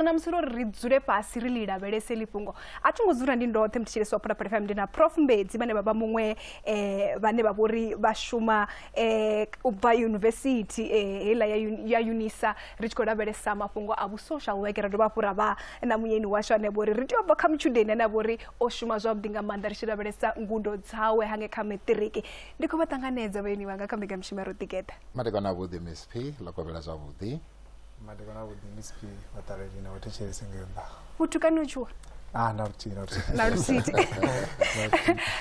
na musi uri ri dzule fhasi ri ḽi lavhelese ḽi fhungo a thi ngo dzula ndi ndoṱhe muthetshelesi wa phulaphula fm ndi na prof mbedzi vhane vha vha muṅwe um vhane vha vhori vha shuma um u bva yunivesithi um heiḽa ya unisa ri tshi khou lavhelesa mafhungo a vhusocial work ra dovha hafhu ra vha na muyeni washu ane vhori ri tea u bva kha mutshudeni ane a vhori o shuma zwavhuḓi nga maanḓa ri tshi lavhelesa ngudo dzawe hange kha maṱiriki ndi khou vha ṱanganedza vhayeni vhanga kha mbekamishumo ya ro ḓigeḓa matekano avhuḓi msp ḽo kovhela zwavhuḓi madekwana avhuḓi ndi siphi vhaṱaleli na vhathetshelesi ngei nnḓa vhutukani u tshuwa ah na luthihi na luthihi na luthihi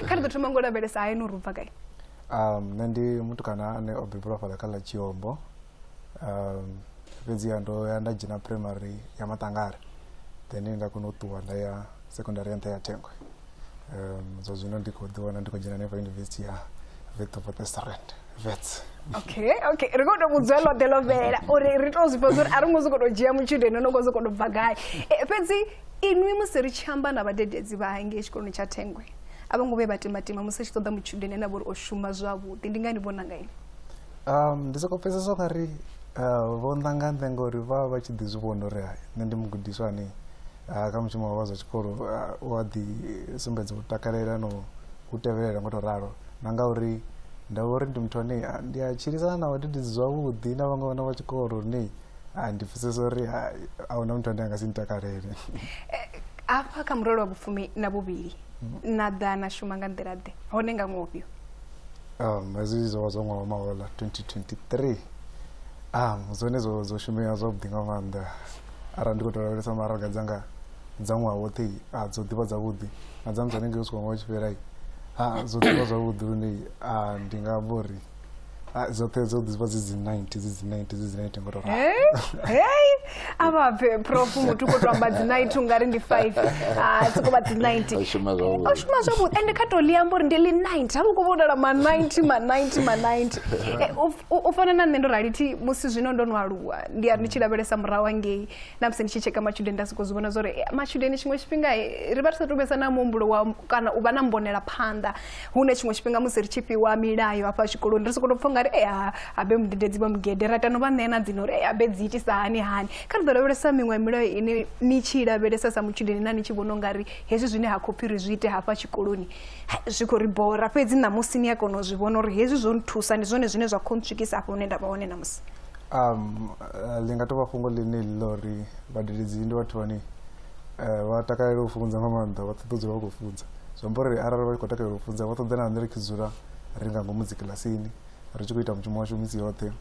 kha ri ḓo thoma ngo lavhelesa hayi no rubva gai um nṋe ndi mutukana ane o bebelwa fhaḽa kha ḽa tshiombo um fhedziha ndo ya nda dzhena primary ya maṱangare then nda kona u ṱuwa nda ya secondary ya nṱha ya thengwe um, zwa zwino ndi khou ḓi wana ndi khou dzhena hanefha yunivesithi ya vethopotestrand vets okay okay ri khou tou vhudzwa ḽo ḓe ḽo fhelela uri ri tou zwifha zwa uri a ri ngo sokou tou dzhia mutshudeni no ngo sokou tou bva gai Eh, fhedzi inwi musi ri tshi amba na vhadededzi vha hangei tshikoloni tsha thengwe a vho ngo vhe vha timatima musi a tshi ṱoḓa mutshudeni ane a vha uri o shuma zwavhuḓi ndi ngani vhona nga ini um ndi sokou pfesesa nga ri uh, vho nḓa nga nḓe ngori vha vha vha tshi ḓi zwi vhona uri hai nṋe ndi mugudiswa ane ah, kha mushumo wa zwa tshikolo ah, u a ḓi sumbedza u takalela no u tevhelela ngo to ralo na nga uri nda vha uri ndi muthu ane ah, ndi a tshilisana na vhadededzi zwavhuḓi na vhaṅwe vhana vha tshikolo lune ah, ndi pfesesa uri ah, a huna muthu ane a nga si ntakalele eh, hafha kha murole wa vhufumi na vhuvhili mm-hmm. na ḓa na shuma nga nḓila ḓe hone nga ṅwofhio um hezwi zwo vha zwa ṅwaha wa mahola 2023 um zwone zwo shumea zwavhuḓi nga maanḓa arali ndi khou tou lavhelesa maraga dzanga dza ṅwaha woṱhe a dzo ḓivha dzavhuḓi na dza musi hanengei u swika ṅwaha u tshi fhela a dzo ḓivha zwavhuḓi lune a ndi nga amba uri dzoṱhe dzo ḓivha dzi dzi ninety dzi dzi ninety dzi dzi ninety ngo tou hei a vha pfe prof muthu khou tou amba dzi ninety u nga ri ndi five a soko vha dzi ninety o shuma zwavhuḓi ende kha tou ḽi amba uri ndi ḽi ninety ha vha khou vhonala ma ninety ma ninety ma ninety u fana na nṋe ndo rali thi musi zwino ndo no aluwa ndi a ndi tshi lavhelesa murahu hangei na musi ndi tshi tsheka matshudeni nda sokou zwi vhona zwa uri eh, matshudeni tshiṅwe tshifhinga eh, ri vha ri sa tou vhesa na muhumbulo wa kana u vha na mbonela phanḓa hune tshiṅwe tshifhinga musi ri tshi fhiwa milayo hafha tshikoloni ri sokou tou pfha nga ri e ha habe mudededzi vha mugede ra tano vha ṋea na dzino uri e habe dzi itisa hani hani kha ri ḓo lavhelesa miṅwe ya milayo ine ni tshi i lavhelesa sa mutshudeni na ni tshi vhona u nga ri hezwi zwine ha khou pfhi ri zwi ite hafha tshikoloni ha, zwi khou ri bora fhedzi ṋamusi ni a kona u zwi vhona uri hezwi zwo nthusa ndi zwone zwine zwa khou ntswikisa afho hune nda vha hone ṋamusi um, uh, ḽi nga tovha fhungo ḽine ḽi ḽa uri vhadededzi ndi vhathu vhane uh, vha takalela u funza nga maanḓa vha ṱoḓa dzula vha khou funza zwi amba uri arali vha tshi khou takalela u funza vha ṱoḓa na nṋe ri tshi dzula ri nga ngomu dzikilasini ri tshi khou ita mushumo washu misi yoṱhe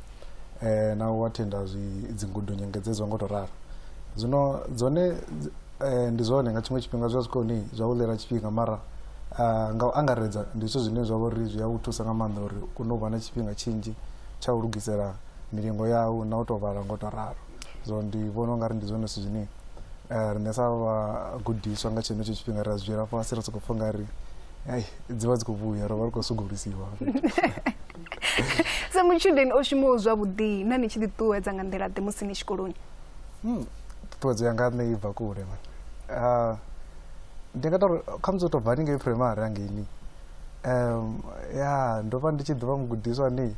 um na u athenda dzingudo nyengedzedzwa ngo to ralo zwino dzone um ndi zwone nga tshiṅwe tshifhinga zwi a swika hone zwa u ḽela tshifhinga mara nga u angaredza ndi zwithu zwine zwa vha uri zwi a u thusa nga maanḓa uri u kone u vha na tshifhinga tshinzhi tsha u lugisela milingo yau na u tou vhala ngo tou ralo so ndi vhona ungari ndi zwone zwithu zwine eh, riṋe sa vhagudiswa nga tshenetsho tshifhinga ri a zwi dzhiela fhasi ri sokou pfha ungari ei dzi vha dzi khou vhuya ro vha ri khou sugulusiwa sa mutshudeni o shumaho zwavhuḓi na ni tshi ḓiṱuwedza nga nḓila ḓe musi ni tshikoloni Hmm, ṱhuṱhuwedzo yanga nṋe i bva kule man Ah, ndi nga tori khamusi u tou bva haningei primary hangeini um ya ndo vha ndi tshi ḓivha mugudiswa ni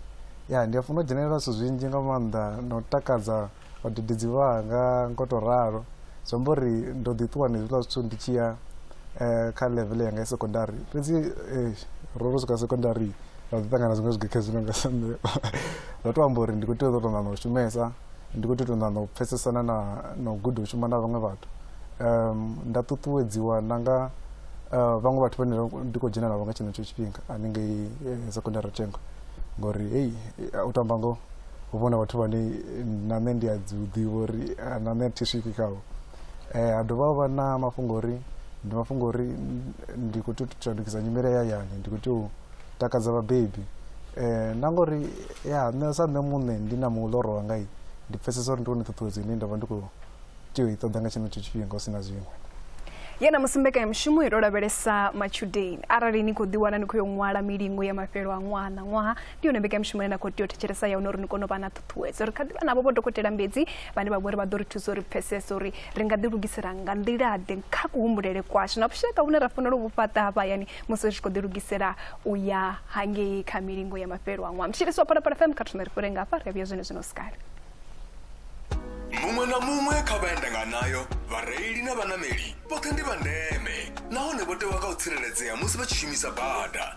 ya ndi a funa u dzhenelela zwithu zwinzhi nga maanḓa na u takadza vhadededzi vhanga ngo to ralo zwi amba uri ndo ḓi ṱuwa na hezwiḽa zwithu ndi tshi ya um kha level yanga ya secondary fhedzi eh, ro ro swika secondary ra ḓi ṱangana zwiṅwe zwigekhezwi nonga sa nṋe ndo to amba uri ndi khou tea u ḓo to ṋaṋa u shumesa ndi khou tou ṱoḓa na u pfesesana na na u guda u shuma na vhaṅwe vhathu um nda ṱuṱuwedziwa na nga uh, vhaṅwe vhathu vhane ndi khou dzhena navho nga tshenetsho tshifhinga haningei eh, secondary thengo ngori hei eh, u tamba ngoho hu vhona vhathu vhane na nṋe ndi a dzi ḓivha uri ah, na nṋe thi swiki khavho Eh, ha dovha vha na mafhungo uri ndi mafhungo uri ndi khou tea u shandukisa nyimele ya hayani ndi khou tea u takadza vhabebi um na ngori ya nṋe sa nṋe muṋe ndi na muḽoro wanga ndi pfesesa uri ndi wone ṱhuṱhuwedzo ine nda vha ndi khou tea u i ṱoḓa nga tshenetsho tshifhinga hu si na zwiṅwe ye na musi mbekanyamushumo i to lavhelesa matshudeni arali ni khou ḓiwana ni khou yo ṅwala milingo ya mafhelo a ṅwaha na ṅwaha ndi yone mbekamishumo ine na khou tea u thetshelesa ya hone uri ni kone u vha na ṱhuṱhuwedzo ri kha ḓivha navho vho dokotela mbedzi vhane vha vha uri vha ḓo ri thusa uri pfesese uri ri nga ḓilugisela nga nḓilaḓe kha kuhumbulele kwashu na vhushaka vhune ra fanela u vhu fhaṱa hafha hayani musi ri tshi khou ḓilugisela u ya hangei kha milingo ya mafhelo a ṅwaha mutshilisi wa phalaphala fm kha thome ri fhire nga hafha ri a vhuya zwone zwino sikale muṅwe na muṅwe kha vhaendanganayo vhareili na vhanameli vhoṱhe ndi vha ndeme nahone vho tewa kha u tsireledzea musi vha tshi shumisa bada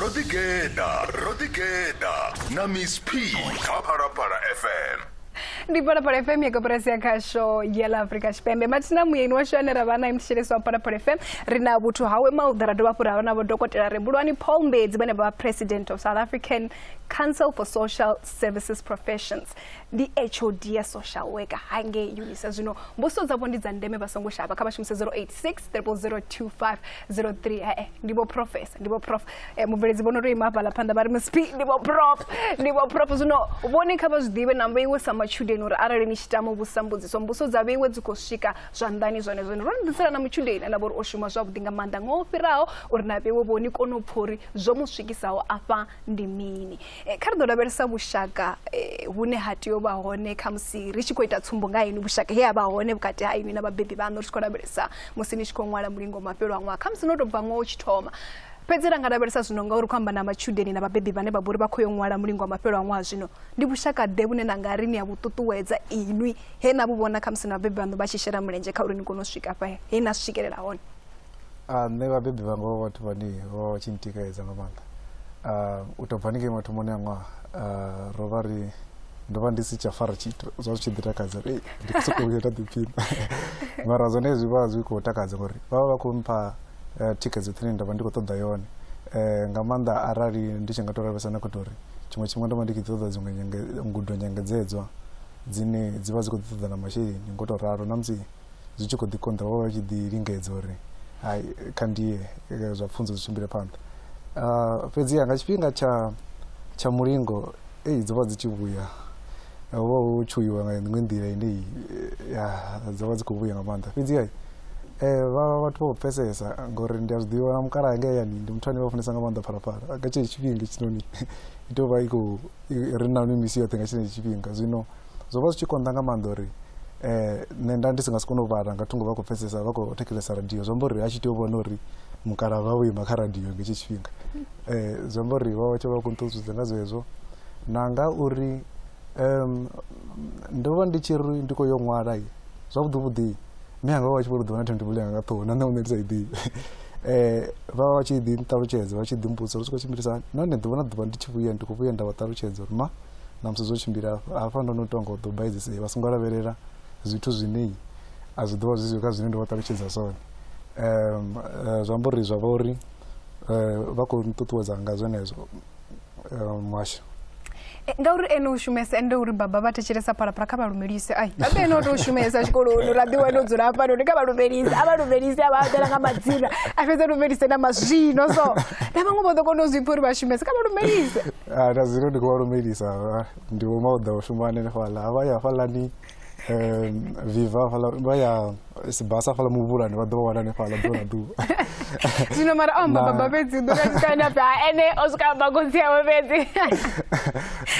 ro ḓi geḓa ro ḓi geḓa na miss p kha phalaphala fm ndi phalaphala fm ya koporasi ya khasho ya ḽa afrika tshipembe mathina muyeni washu ane ra vha naye muthetshelesi wa phalaphala fm ri na vhuthu hawe mauḓa ra dovha hafhu ra vha na vhodokotela rebulwani paul mbedzi vhane vha vha president of south african council for social services professions ndi hod ya social worker hangei unisa zwino mbuso dzavho ndi dza ndeme vha songo shavha kha vha shumise 086 0025 03 eh, eh, ndi vho profesa ndi vho prof eh, mubveledzi vhono tou ima hafhaḽa phanḓa vha ri msp ndi vho prof ndi vho prof zwino vhone kha vha zwi ḓivhe na vheiwe sa matshudeni uri arali ni tshi tama vhusa mbudziso mbuso dza vheiwe dzi khou swika zwanḓani zwone zwone ro ni ḓisela na mutshudeni ane vha uri o shuma zwavhuḓi nga maanḓa ngo fhiraho uri na vheiwe vho ni kone u pfha uri zwo mu swikisaho afha ndi mini Eh, kha ri ḓo lavhelesa vhushaka eh, vhune ha tea u vha hone kha musi ri tshi khou ita tsumbo nga inwi vhushaka he ha vha hone vhukati ha inwi na vhabebi vhaṋu ri tshi khou lavhelesa musi ni tshi khou ṅwala mulingo mafhelo a ṅwaha kha musi no tou bva ṅwaha u tshi thoma fhedzi ra nga lavhelesa zwino nga uri khou amba na matshudeni na vhabebi vhane vha vhori vha khou yo ṅwala mulingo wa mafhelo a ṅwaha zwino ndi vhushaka ḓe vhune na nga ri ni a vhu ṱuṱuwedza inwi he na vhu vhona kha musi na vhabebi vhaṋu vha tshi shela mulenzhe kha uri ni kone u swika fha he na swikelela hone Ah, nṋe vhabebi vhanga vho vhathu vhane vho vha vha tshi ntikaedza nga maanḓa Ah, u tou bva ni ngei mathomoni a ṅwaha ah, ro vha ri ndo vha ndi si tsha fara tshithu zwa zwi tshi ḓi takadza uri "Ei, ndi khou sokou vhuya nda ḓiphina mara zwone zwi vha zwi khou takadza ngori vha vha vha khou mpha eh, thikhedzo ṱhine nda vha ndi khou ṱoḓa yone Eh, nga maanḓa arali ndi tshi nga tou lavhelesa na khoto uri tshiṅwe tshifhinga ndo vha ndi khou ṱoḓa dziṅwe nyenge- ngudo nyengedzedzwa dzine dzi vha dzi khou ḓi ṱoḓa na masheleni ngo tou ralo na musi zwi tshi khou ḓi konḓa vho vha tshi ḓi lingedza uri hai kha ndiye eh, zwa pfunzo zwi tshimbile phanḓa ah, fhedziha nga tshifhinga tsha tsha mulingo ei dzo vha dzi tshi vhuya eh, ho vha hu tshuiwa nga iṅwe nḓila ine eh, ya dzo vha dzi khou vhuya nga maanḓa fhedziha um vha vhathu vha khou pfesesa ngori ndi a zwi ḓivha mukala anga yani ndi muthu ane vha funesa nga maanḓa phalaphala nga tshee tshifhinga tshinoni i tou vha i khou ri na mimisi yoṱhe nga tshenetsho tshifhinga zwino zwo vha zwi tshi konḓa nga maanḓa uri um nṋe nda ndi si nga si kone u vhala nga thungo vha khou pfesesa vha khou thetshelesa radio zwi amba uri a tshi tea u vhona uri mukala vha vho ima kha radio nga hetshi tshifhinga um zwi amba uri vha vha tshe vha khou nṱuṱuwedza nga zwezwo na nga uri um ndo vha ndi tshi ri ndi khou yo ṅwala zwavhuḓi vhuḓi mme anga vha vha tshi vho ri ḓivha na themtebule yanga nga ṱhoho na nṋe muṋe ndi sa i ḓivhi um vha vha vha tshi ḓi nṱalutshedza vha tshi ḓi mbudza uri zwi khou tshimbilisa nahone ḓuvha na ḓuvha ndi tshi vhuya ndi khou vhuya nda vha ṱalutshedza uri ma na musi zwo tshimbila hafha hafha ndo no tou nga u ḓo baizisa vha songo lavhelela zwithu zwine a zwi ḓo vha zwi zwi kha zwine ndo vha ṱalutshedza zwone um eh, zwi amba uri zwa vha uri eh, vha khou nṱuṱuwedza nga zwenezwo eh, muhasho E, ngauri ene u shumesa ende uri baba vha thetshelesa phalaphala kha vha lumelise ai baba ene o tou shumesa tshikoloni uri a ḓi wane o dzula hafha noni kha vha lumelise a vha lumelise a vha aḓela nga madzina a fhedza lumelise na mazwino so na vhaṅwe vho ḓo kona u zwi pfha uri vha shumese kha vha lumelise Ah, na zwino ndi khou vha lumelisa ah, ndi vho mauḓa u shuma hanefhala vha ya hafhalani um, viva hafhala vha ya sibasa hafhala muvhulani vha ḓo vha wana hanefhala ḓuvha na ḓuvha zwino mara o amba Na- baba fhedzi u ḓo kasikani ape ha ene o swika amba khotsi yawe fhedzi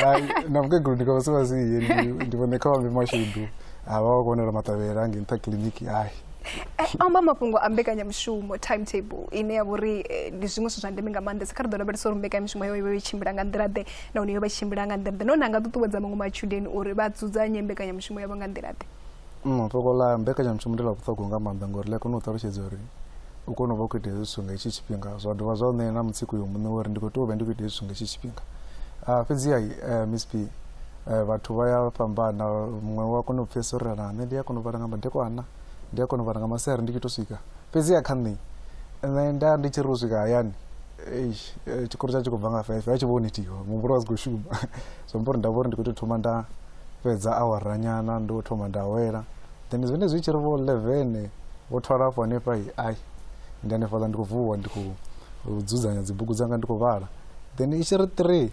Ai, na mukegulu ndi kavha sivasiye ndi vhone kha vhambe mashudu a vha vha kho wanela maṱavhela nge nṱha kiḽiniki ai Eh, amba mafhungo a mbekanyamushumo timetable ine ya vha uri eh, ndi zwiṅwe zwithu zwa ndeme nga maanḓesa kha ri ḓo lavhelesa uri mbekanyamushumo yo yo tshimbila nga nḓila ḓe nahone yo vha tshimbila nga nḓila ḓe nahone a nga ṱuṱuwedza maṅwe matshudeni uri vha dzudzanye mbekanyamushumo yavho nga nḓila ḓe mm, fhungo ḽa mbekanyamushumo ndi ḽa vhuṱhogwa nga maanḓa ngori ḽi a kona u ṱalutshedza uri u kone u vha u khou ita hezwi zwithu nga hetshi tshifhinga zwa dovha zwa u ṋea na mutsiko yo muṋe uri ndi khou tea u vha ndi khou ita hezwi zwithu nga hetshi tshifhinga ah, fhedziha eh, miss p Eh, vhathu vha ya fhambana muṅwe wa kona u pfhesa uri na nṋe ndi a kona u vhala nga madekwana ndi a kona u vhala nga masiari ndi tshi to swika fhedzi ya kha nṋe nṋe nda ndi tshi ri u swika hayani eh, tshikoro tsha tshi khou bva nga five a tshi vhoni thiho muhumbulo wa si khou shuma zwi amba uri nda vha uri ndi khou tou thoma nda fhedza awaranyana ndo thoma nda awela then zwine zwi tshi ri vho eleven vho thwala afho hanefha i ai ndi hanefhaḽa ndi khou vuwa ndi khou dzudzanya dzibugu dzanga ndi khou vhala then i tshi ri three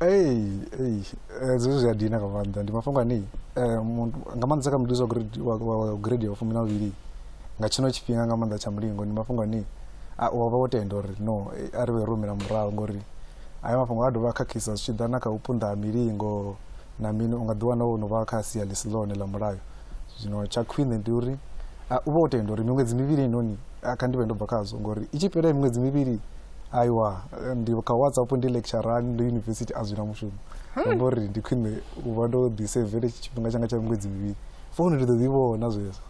Ei, ei, eh, zwezwi zwi a dina nga maanḓa ndi mafhungo ane eh, muthu- nga maanḓesa kha mududzi wa grade- wa- wa- wa grade ya vhufumi na vhuvhili nga tshino tshifhinga nga maanḓa tsha mulingo ndi mafhungo ane a- u wa vha wo tenda uri no eh, a ri vhe ro humela murahu ngori aya mafhungo a dovha a khakhisa zwi tshi ḓa na kha u punḓa ha milingo na mini, u nga ḓiwana wo no vha kha sia ḽi si ḽone ḽa mulayo. Zwino tsha khwine ndi uri u vhe wo tenda uri miṅwedzi mivhili heinoni kha ndi vhe ndo bva khazwo, ngori i tshi fhela miṅwedzi mivhili aiwa ndi kha whatsapp ndi lecturani ndi yunivesithi a zwi na mushumo hmm. amba uri ndi khwine u vha ndo ḓisevele tshifhinga tshanga tsha miṅwedzi mivhili founu ndi ḓo ḓi vhona zwezwo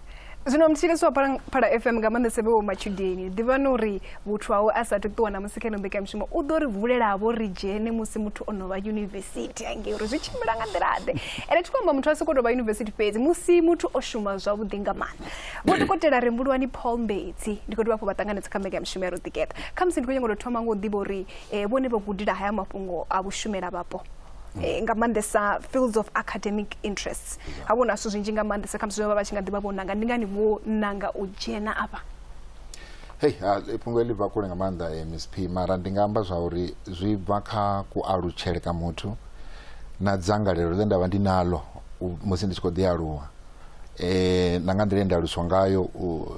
zwino mthilisi wa phala, phala fm nga maanḓese vhe wo matshudeni ḓivhani uri vhuthu hawe a sathu ṱuwa na musi kha ino mbekanyamushumo u ḓo ri vulelavo ri dzhene musi muthu o no vha yunivesithi hangei uri zwi tshimbila nga nḓila-ḓe ende thi khou amba muthu a sokou tou vha yunivesithi fhedzi musi muthu o shuma zwavhuḓi nga maanḓa vho dokotela rembulwani paul mbedzi ndi khou dovha hafho vha ṱanganedza kha mbekanyamushumo ya roḓikeṱa khamusi ndi khou nyanga u tou thoma nga u ḓivha uri um vhone vho gudela haya mafhungo a vhushumela vhapo eh, nga maanḓesa fields of academic interests ha vhona zwithu zwinzhi nga maanḓesa kha msizwe vha vha tshi nga ḓivha vho nanga ndi ngani vho nanga u dzhena afha hei ah, fhungo eḽi bva kule nga maanḓa eh, miss p mara ndi nga amba zwa uri zwi bva kha kualutshele ka muthu na dzangalelo ḽe nda vha ndi nalo musi ndi tshi khou ḓi aluwa eh, na nga nḓila nda aluswa ngayo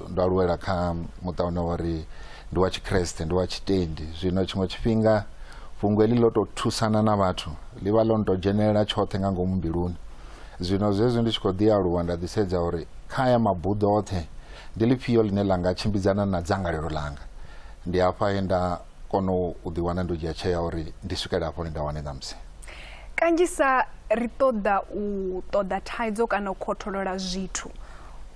ndo aluwela kha muṱa une wa ri ndi wa tshikreste ndi wa tshitendi zwino tshiṅwe tshifhinga fhungo heḽi ḽo tou thusana na vhathu ḽi vha ḽo no tou dzhenelela tshoṱhe nga ngomu mbiluni zwino zwezwi ndi tshi khou ḓi aluwa nda ḓisedza uri kha ya mabuḓo oṱhe ndi ḽifhio ḽine ḽa nga tshimbidzana na dzangalelo ḽanga ndi hafha he nda kono u ḓi wana ndo dzhia tshea uri ndi swikele hafho nda wane ṋamusi kanzhisa ri ṱoḓa u ṱoḓa thaidzo kana u khotholola zwithu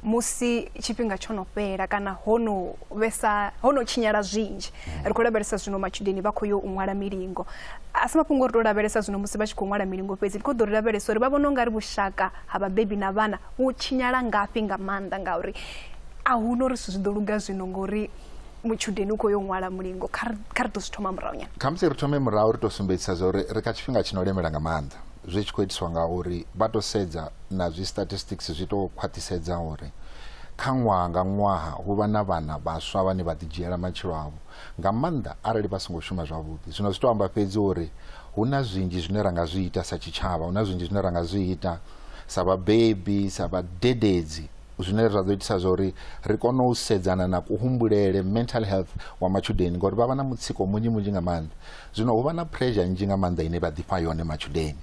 musi tshifhinga tsho no fhela kana ho no vhesa ho no tshinyala zwinzhi ri khou lavhelesa zwino matshudeni vha khou yo u ṅwala milingo a si mafhungo ri tou lavhelesa zwino musi vha tshi khou ṅwala milingo fhedzi ri khou ḓo ri lavhelesa uri vha vhona u nga ri vhushaka ha vhabebi na vhana vhu tshinyala ngafhi nga maanḓa ngauri a hu no ri zwithu zwi ḓo luga zwino ngori mutshudeni u khou yo ṅwala mulingo kha ri ḓo zwi thoma murahu nyana khamusi ri thome murahu ri tou sumbedzisa zwa uri ri kha tshifhinga tshi no lemela nga maanḓa zwi tshi khou itiswa nga uri vha tou sedza na zwi statistics zwi tou khwaṱhisedza uri kha ṅwaha nga ṅwaha hu vha na vhana vhaswa vhane vha ḓidzhiela matshilo avho nga maanḓa arali vha songo shuma zwavhuḓi zwino zwi tou amba fhedzi uri hu na zwinzhi zwine ra nga zwi ita sa tshitshavha hu na zwinzhi zwine ra nga zwi ita sa vhabebi sa vhadededzi zwine zwa ḓo itisa zwa uri ri kone u sedzana na kuhumbulele mental health wa matshudeni ngori vha vha na mutsiko munzhi munzhi nga maanḓa zwino hu vha na pressure nnzhi nga maanḓa ine vha ḓifha yone matshudeni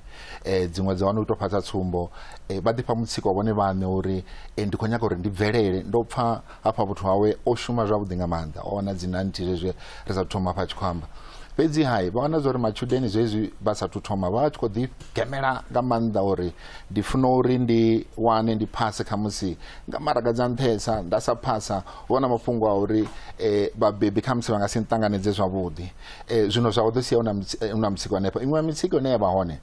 um dziṅwe dza wana u tou fhaṱa tsumbo um vha ḓifha mutsiko vhone vhaṋe uri um ndi khou nyaga uri ndi bvelele ndo pfha hafha vhuthu hawe o shuma zwavhuḓi nga maanḓa o wana dzi nanthi zwezwi ri sa thoma hafha a tshi khou amba fhedzi hai vha wana zwa uri matshudeni zwezwi vha sathu thoma vha tshi khou ḓi gemela nga maanḓa uri ndi funa uri ndi wane ndi phase khamusi nga maraga dza nṱhesa nda sa phasa hu na mafhungo a uri um vhabebi khamusi vha nga si nṱanganedze zwavhuḓi um zwino zwa u ḓo sia hu na mutsiko hanefho iṅwe ya mitsiko ine ya vha hone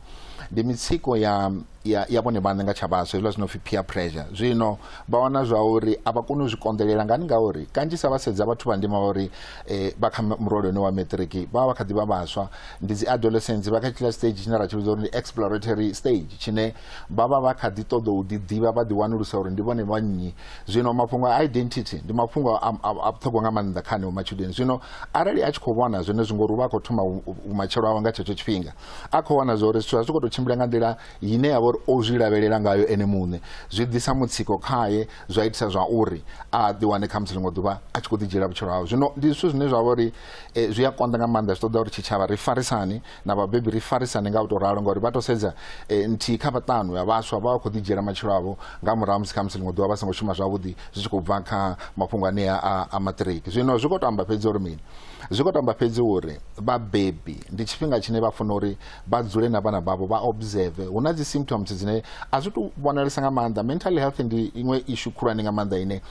ndi mitsiko ya ya ya vhone vhaṋe nga tsha vhaswa hezwiḽa zwino pfi peer pressure zwino vha wana zwa uri a vha koni u zwi konḓelela ngani ngauri kanzhisa vha sedza vhathu vha ndima vha uri um vha kha murole une wa maṱiriki vha vha vha kha ḓi vha vhaswa ndi dzi adolescents vha kha tshila stage tshine ra tshi vhidza uri ndi exploratory stage tshine vha vha vha kha ḓi ṱoḓa u ḓiḓivha vha ḓi wanulusa uri ndi vhone vha nnyi zwino mafhungo a identity ndi mafhungo a vhuṱhogwa nga maanḓa kha aneo matshudeni zwino arali a tshi khou vhona zwone zwi ngori u vha a khou thoma vhumatshelo awe nga tshetsho tshifhinga a khou vhona zwa uri zwithu a zwi khou tou tshimbila nga nḓila ine ya vha uri o zwi lavhelela ngayo ene muṋe zwi ḓisa mutsiko khaye zwa itisa zwa uri a ḓiwane khamusi ḽiṅwe ḓuvha a tshi khou ḓi dzhiela vhutshilo hawe zwino ndi zwithu zwine zwa vha uri e, zwi a konḓa nga maanḓa zwi ṱoḓa uri tshitshavha ri farisane na vhabebi ri farisane nga u tou ralo ngauri vha tou sedza e, nthihi kha vhaṱanu ya vhaswa vha vha khou ḓidzhiela matshilo avho nga murahu musi kha musi ḽiṅwe ḓuvha vha songo shuma zwavhuḓi zwi tshi khou bva kha mafhungo anea a, a maṱiriki zwino zwi khou tou amba fhedzi uri mini zwi khou tou amba fhedzi uri vhabebi ndi tshifhinga tshine vha funa uri vha dzule na vhana vhavho vha observe hu na dzi symptoms dzine a zwi tou vhonalesa nga maanḓa mental health ndi iṅwe ishu khulwane nga maanḓa ine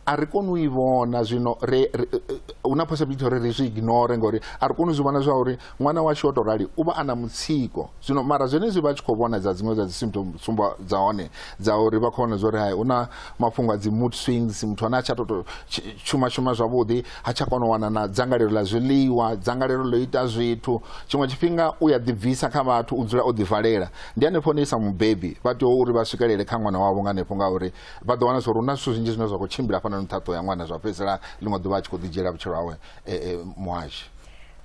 a ri koni u i vhona zwino ri hu na possibility uri ri zwi ignore ngori a ri koni u zwi vhona zwa uri ṅwana washu o tou rali u vha a na mutsiko zwino mara zwenezwi vha tshi khou vhona dza dziṅwe dza dzi symptom tsumbo dza hone dza uri vha khou vhona zwa uri hai hu na mafhungo a dzi mood swings muthu ane a tsha toto shuma shuma zwavhuḓi ha tsha kona u wana na dzangalelo ḽa zwiḽiwa dzangalelo ḽo ita zwithu tshiṅwe tshifhinga u ya ḓibvisa kha vhathu u dzula o ḓivalela ndi hanefho hone i sa mubebi vha tea uri vha swikelele kha ṅwana wavho nga hanefho ngauri vha ḓo wana zwa uri hu na zwithu zwinzhi zwine zwa khou tshimbila hafhanoni nṱha ṱoho ya ṅwana zwa fhedzisela ḽiṅwe ḓuvha a tshi khou ḓi dzhiela vhutshilo hawe eh, eh, muhashi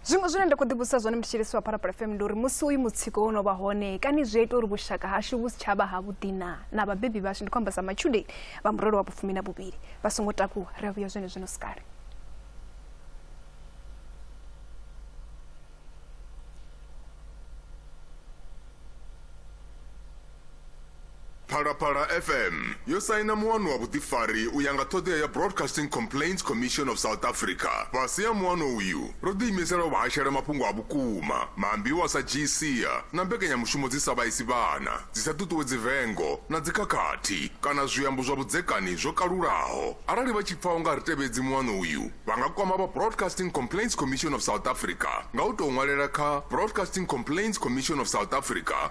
zwiṅwe zwine nda khou ḓivhudzisa zwone ndi tshi lisiwa phalaphala fm ndi uri musi uyu mutsiko wo no vha hone kani zwi a ita uri vhushaka hashu vhu si tsha vha havhuḓi na na vhabebi vhashu ndi khou amba sa matshudeni vha murole wa vhufumi na vhuvhili vha songo takuwa ri a vhuya zwone zwino sikale Phalaphala FM yo saina muano wa vhuḓifari u ya nga ṱhoḓea ya Broadcasting Complaints Commission of South Africa. Fhasi ha muano uyu, ro ḓiimisela u vha hashela mafhungo a vhukuma, maambiwa sa dzhiisia na mbekanyamushumo dzi sa vhaisi vhana, dzi sa ṱuṱuwedzi vengo na dzikhakhathi kana zwiambo zwa vhudzekani zwo kalulaho. Arali vha tshi pfa u nga ri tevhedzi muano uyu, vha nga kwama vha Broadcasting Complaints Commission of South Africa nga u tou ṅwalela kha Broadcasting Complaints Commission of South Africa,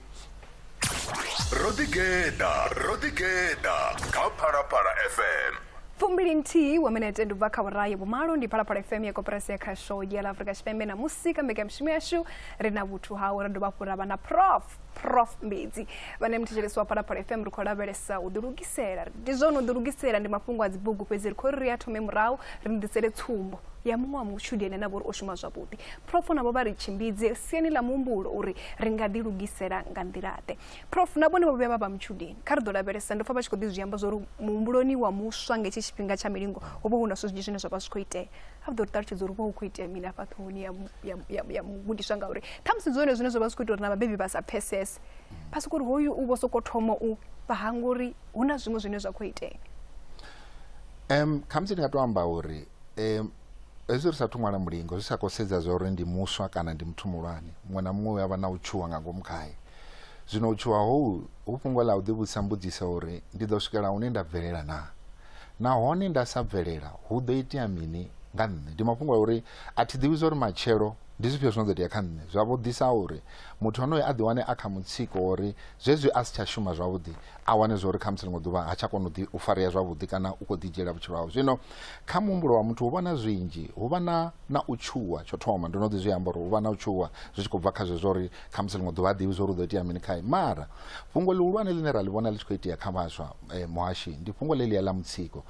ro ḓigeḓa ro ḓigeḓa kha phalaphala fm fumbili nthihi wa minete ndi bva kha vhurayi vhumalo ndi phalaphala fm ya koperasi ya khasho ya ḽa afurika tshipembe na musi kha mbekanyamushumo yashu ri na vhuthu hawe ra dovha hafhu ra vha na prof prof mbedzi vhane muthetshelesi wa phalaphala fm ri khou lavhelesa u ḓilugisela ndi zwone u ḓilugisela ndi mafhungo a dzibugu fhedzi ri khou ri ri a thome murahu ri ni ḓisele tsumbo ya muṅwe wa mutshudeni ane a vha uri o shuma zwavhuḓi Prof navho vha ri tshimbidze siani ḽa muhumbulo uri ri nga ḓi lugisela nga nḓila-ḓe. Prof na vhone vho vhuya vha vha mutshudeni. Kha ri ḓo lavhelesa, ndo pfa vha tshi khou ḓi zwi amba zwa uri muhumbuloni wa muswa nga hetshi tshifhinga tsha milingo ho vha hu na zwinzhi zwine zwa vha zwi khou itea. A vha ḓo ri ṱalutshedza uri hu vha hu khou itea mini hafha ṱhohoni ya, ya, ya, ya mugudiswa ngauri ṱhamusi ndi zwone zwine zwa vha zwi khou ita uri na vhabebi vha sa pfesese. Vha sokou uri hoyu u vho sokou thoma u vha hanga uri hu na zwiṅwe zwine zwa khou itea. Um, khamusi ndi nga tou amba uri um, hezwi ri sathu ṅwala mulingo zwi sa khou sedza zwa uri ndi muswa kana ndi muthu muhulwane muṅwe na muṅwe u avha na u tshuwa nga ngomu khae zwino u tshuwa hou hu fhungo ḽa u ḓivhudzisa mbudziso uri ndi ḓo swikela hune nda bvelela na nahone nda sa bvelela hu ḓo itea mini nga nṋe ndi mafhungo a uri a thi ḓivhi zwa uri matshelo ndi zwifhio zwino ḓo itea kha nṋe zwavho ḓisa uri muthu onoyo a ḓiwane a kha mutsiko uri zwezwi a si tsha shuma zwavhuḓi a wane zwa uri khamusi ḽiṅwe ḓuvha ha tsha kona u farea zwavhuḓi kana u khou ḓidzhiela vhutshilo hawe zwino kha muhumbulo wa muthu hu vha na zwinzhi hu vha na na u tshuwa tsho thoma ndo no ḓi zwi amba uri hu vha na u tshuwa zwi tshi khou bva kha zwezwo uri khamusi ḽiṅwe ḓuvha a ḓivhi zwa uri u ḓo itea mini khae mara fhungo ḽihulwane ḽine ra ḽi vhona ḽi tshi khou itea kha vhaswa eh, muhashi ndi fhungo ḽe ḽia ḽa mutsiko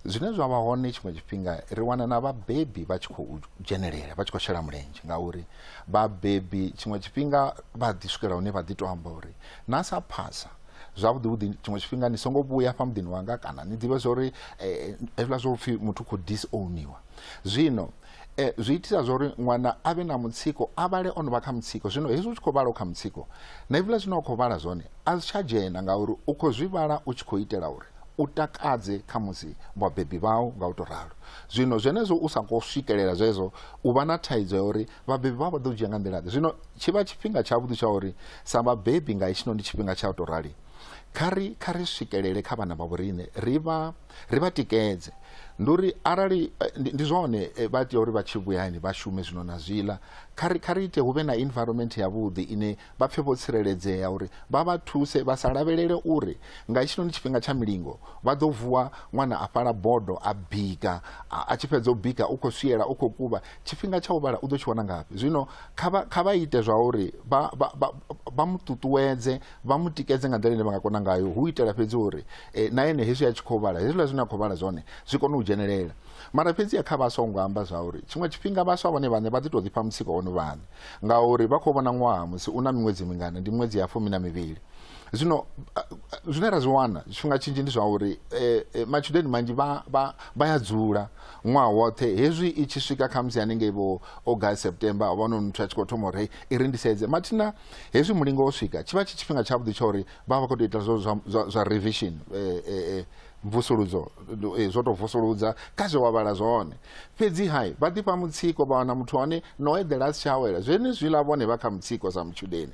zwine zwa vha hone tshiṅwe tshifhinga ri wana na vhabebi vha tshi khou dzhenelela vha tshi khou shela mulenzhe ngauri vhabebi tshiṅwe tshifhinga vha ḓi swikela hune vha ḓi to amba uri na sa phasa zwavhuḓi vhuḓi tshiṅwe tshifhinga ni songo vhuya fha muḓini wanga kana ni ḓivhe zwa uri eh, hezwiḽa zwo pfhi muthu khou disowniwa zwino eh, zwi itisa zwa uri ṅwana a vhe na mutsiko a vhale o no vha kha mutsiko zwino hezwi u tshi khou vhala u kha mutsiko na hezwiḽa zwine wa khou vhala zwone a zwi tsha dzhena ngauri u khou zwi vhala u tshi khou itela uri u takadze kha musi vhabebi vhau nga u to ralo zwino zwenezwo u sa khou swikelela zwezwo u vha na thaidzo ya uri Vhabebi vha vha ḓo dzhia nga nḓila ḓe? Zwino tshi vha tshifhinga tshavhuḓi tsha uri sa vhabebi nga hetshino ndi tshifhinga tsha u tou rali kha ri kha ri swikelele kha vhana vha vhoriṋe ri vha ri vha tikedze ndi uri arali eh, ndi zwone eh, vha tea uri vha tshi vhuya hayani vha shume zwino na zwiḽa kha ri kha ri ite hu vhe na environment yavhuḓi ine vha pfhe vho tsireledzea uri vha vha thuse vha sa lavhelele uri nga hetshino ndi tshifhinga tsha milingo vha ḓo vuwa ṅwana a fhala bodo a bika a a tshi fhedza u bika u khou swiela u khou kuvha tshifhinga tsha u vhala u ḓo tshi wana ngafhi zwino kha vha kha vha ite zwa uri vha vha vha vha mu ṱuṱuwedze vha mu tikedze nga nḓila ine vha nga kona ngayo hu itela fhedzi uri eh, na ene hezwi a tshi khou vhala hezwiḽa zwine a khou vhala zwone zwi kone u dzhenelela mara fhedzi ya kha vhaswa u nga amba zwa uri tshiṅwe tshifhinga vhaswa vhone vhaṋe vha ḓi tou ḓifha mutsiko ono vhaṋe ngauri vha khou vhona ṅwaha musi u na miṅwedzi mingana ndi miṅwedzi ya fumi na mivhili zwino a- a- zwine ra zwi wana tshifhinga tshinzhi ndi zwa uri eh, eh, matshudeni manzhi vha- vha vha ya dzula ṅwaha woṱhe hezwi i tshi swika khamusi hanengei vho august september havhanoni muthu a tshi khou thoma uri i ri ndisedze mathina hezwi mulingo wo swika tshi vha tshi tshifhinga tshavhuḓi tsha uri vha vha vha khou tou ita zwo zwa, zwa, zwa revision eh, eh, eh, mvusuludzo eh, zwo tou vusuludza kha zwe wa vhala zwone fhedzi hai vha ḓifha mutsiko vha wana muthu hone no eḓela a si tsha awela zwenezwiḽa vhone vha kha mutsiko sa mutshudeni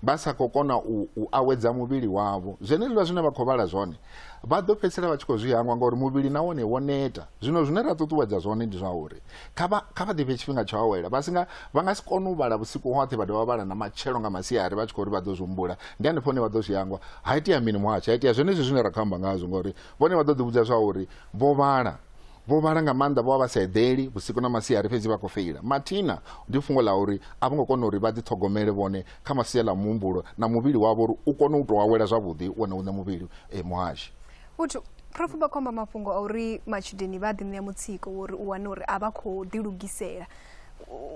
vha sa khou kona u, u awedza muvhili wavho zwenezwiḽa zwine vha khou vhala zwone vha ḓo fhedzisela vha tshi khou zwi hangwa ngauri muvhili na wone wo neta zwino zwine ra ṱuṱuwedza zwone ndi zwa uri kha vha kha vha ḓifhe tshifhinga tsho awela vha singa vha nga si kone u vhala vhusiku hoṱhe vha dovha vhala na matshelo nga masiari vha tshi khou uri vha ḓo zwi humbula ndi hanefho hune vha ḓo zwi hangwa ha itea mini muhasho ha itea zwenezwi zwine ra khou amba ngazwo ngauri vhone vha ḓo ḓivhudza zwa uri vho vhala vho vhala nga maanḓa vho vha vha sa eḓeli vhusiku na masiari fhedzi vha khou feila mathina ndi fhungo ḽa uri a vho ngo kona uri vha ḓiṱhogomele vhone kha masia ḽa muhumbulo na muvhili wavho uri u kone u tou awela zwavhuḓi wone uṋe muvhili e muhashi vhuthu prof vha khomba mafhungo a uri matshudeni vha ḓiṋea mutsiko wori u wane uri a vha khou ḓilugisela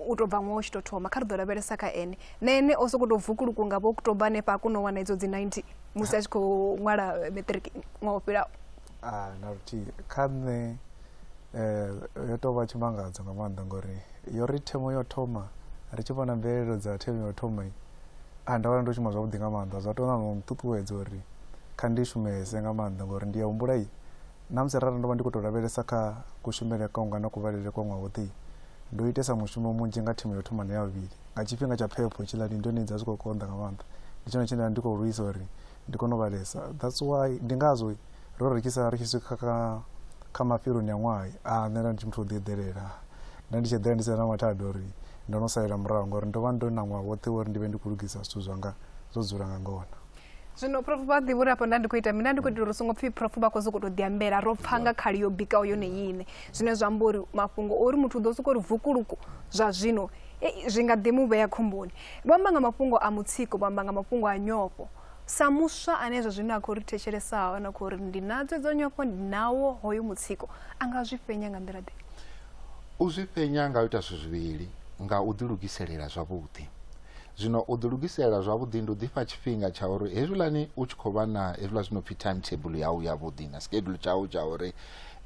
u tou bva ṅwaha u tshi tou thoma kha ri ḓo lavhelesa kha ene na ene o sokou tou vukuluku nga vho oktoba hanefha a kona u wana idzo dzi 90 musi a tshi khou ṅwala matric ṅwaha o fhilaho a na luthihi kha nṋe um yo tou vha tshimangadzo nga maanḓa ngori yo ri themo yo thoma ri tshi vhona mvelelo dza themo yo thoma a nda vhona ndo shuma zwavhuḓi nga maanḓa zwa tou na no nṱuṱuwedza uri kha ndi shumese nga maanḓa ngori ndi ya humbula i na musi rara ndo vha ndi khou tou lavhelesa kha kushumele kwanga na kuvhalele kwa ṅwaha woṱhe ndo itesa mushumo munzhi nga thimu yo thoma na ya vhuvhili nga tshifhinga tsha phepho tshiḽani ndi yone dza zwi khou konḓa nga maanḓa ndi tshone tshine nda ndi khou lwisa uri ndi kone u vhalesa that's why ndi ngazwo ro rikisa ri tshi swika kha kha mafheloni a ṅwaha a nṋe nda ndi tshi muthu o ḓi eḓelela nda ndi tshi eḓela ndi sina na mathada uri ndo no salela murahu ngauri ndo vha ndo na ṅwaha woṱhe uri ndi vhe ndi khou lugisa zwithu zwanga zwo dzula nga ngona zwino prof vha ḓivha uri afho nda ndi khou ita mina ndi khou itela uri songo pfhi prof vha khou sokou tou ḓiambela ro pfha nga khali yo bikaho yone yine zwine zwa amba uri mafhungo ori muthu u ḓo sokou ri vukuluku zwa zwino Ei, zwi nga ḓi mu vhea khomboni. Vho amba nga mafhungo a mutsiko, vho amba nga mafhungo a nyofho. Sa muswa ane zwa zwino a khou ri thetshelesa na khou ri ndi na dzedzo nyofho, ndi nawo hoyo mutsiko, a nga zwi fhenya nga nḓila ḓe? U zwi fhenya nga u ita zwithu zwivhili, nga u ḓilugiselela zwavhuḓi. Zwino u ḓilugiselela zwavhuḓi ndi u ḓifha tshifhinga tsha uri hezwiḽani u tshi khou vha na hezwiḽa zwi no pfhi time table yau yavhuḓi na schedule tshau tsha uri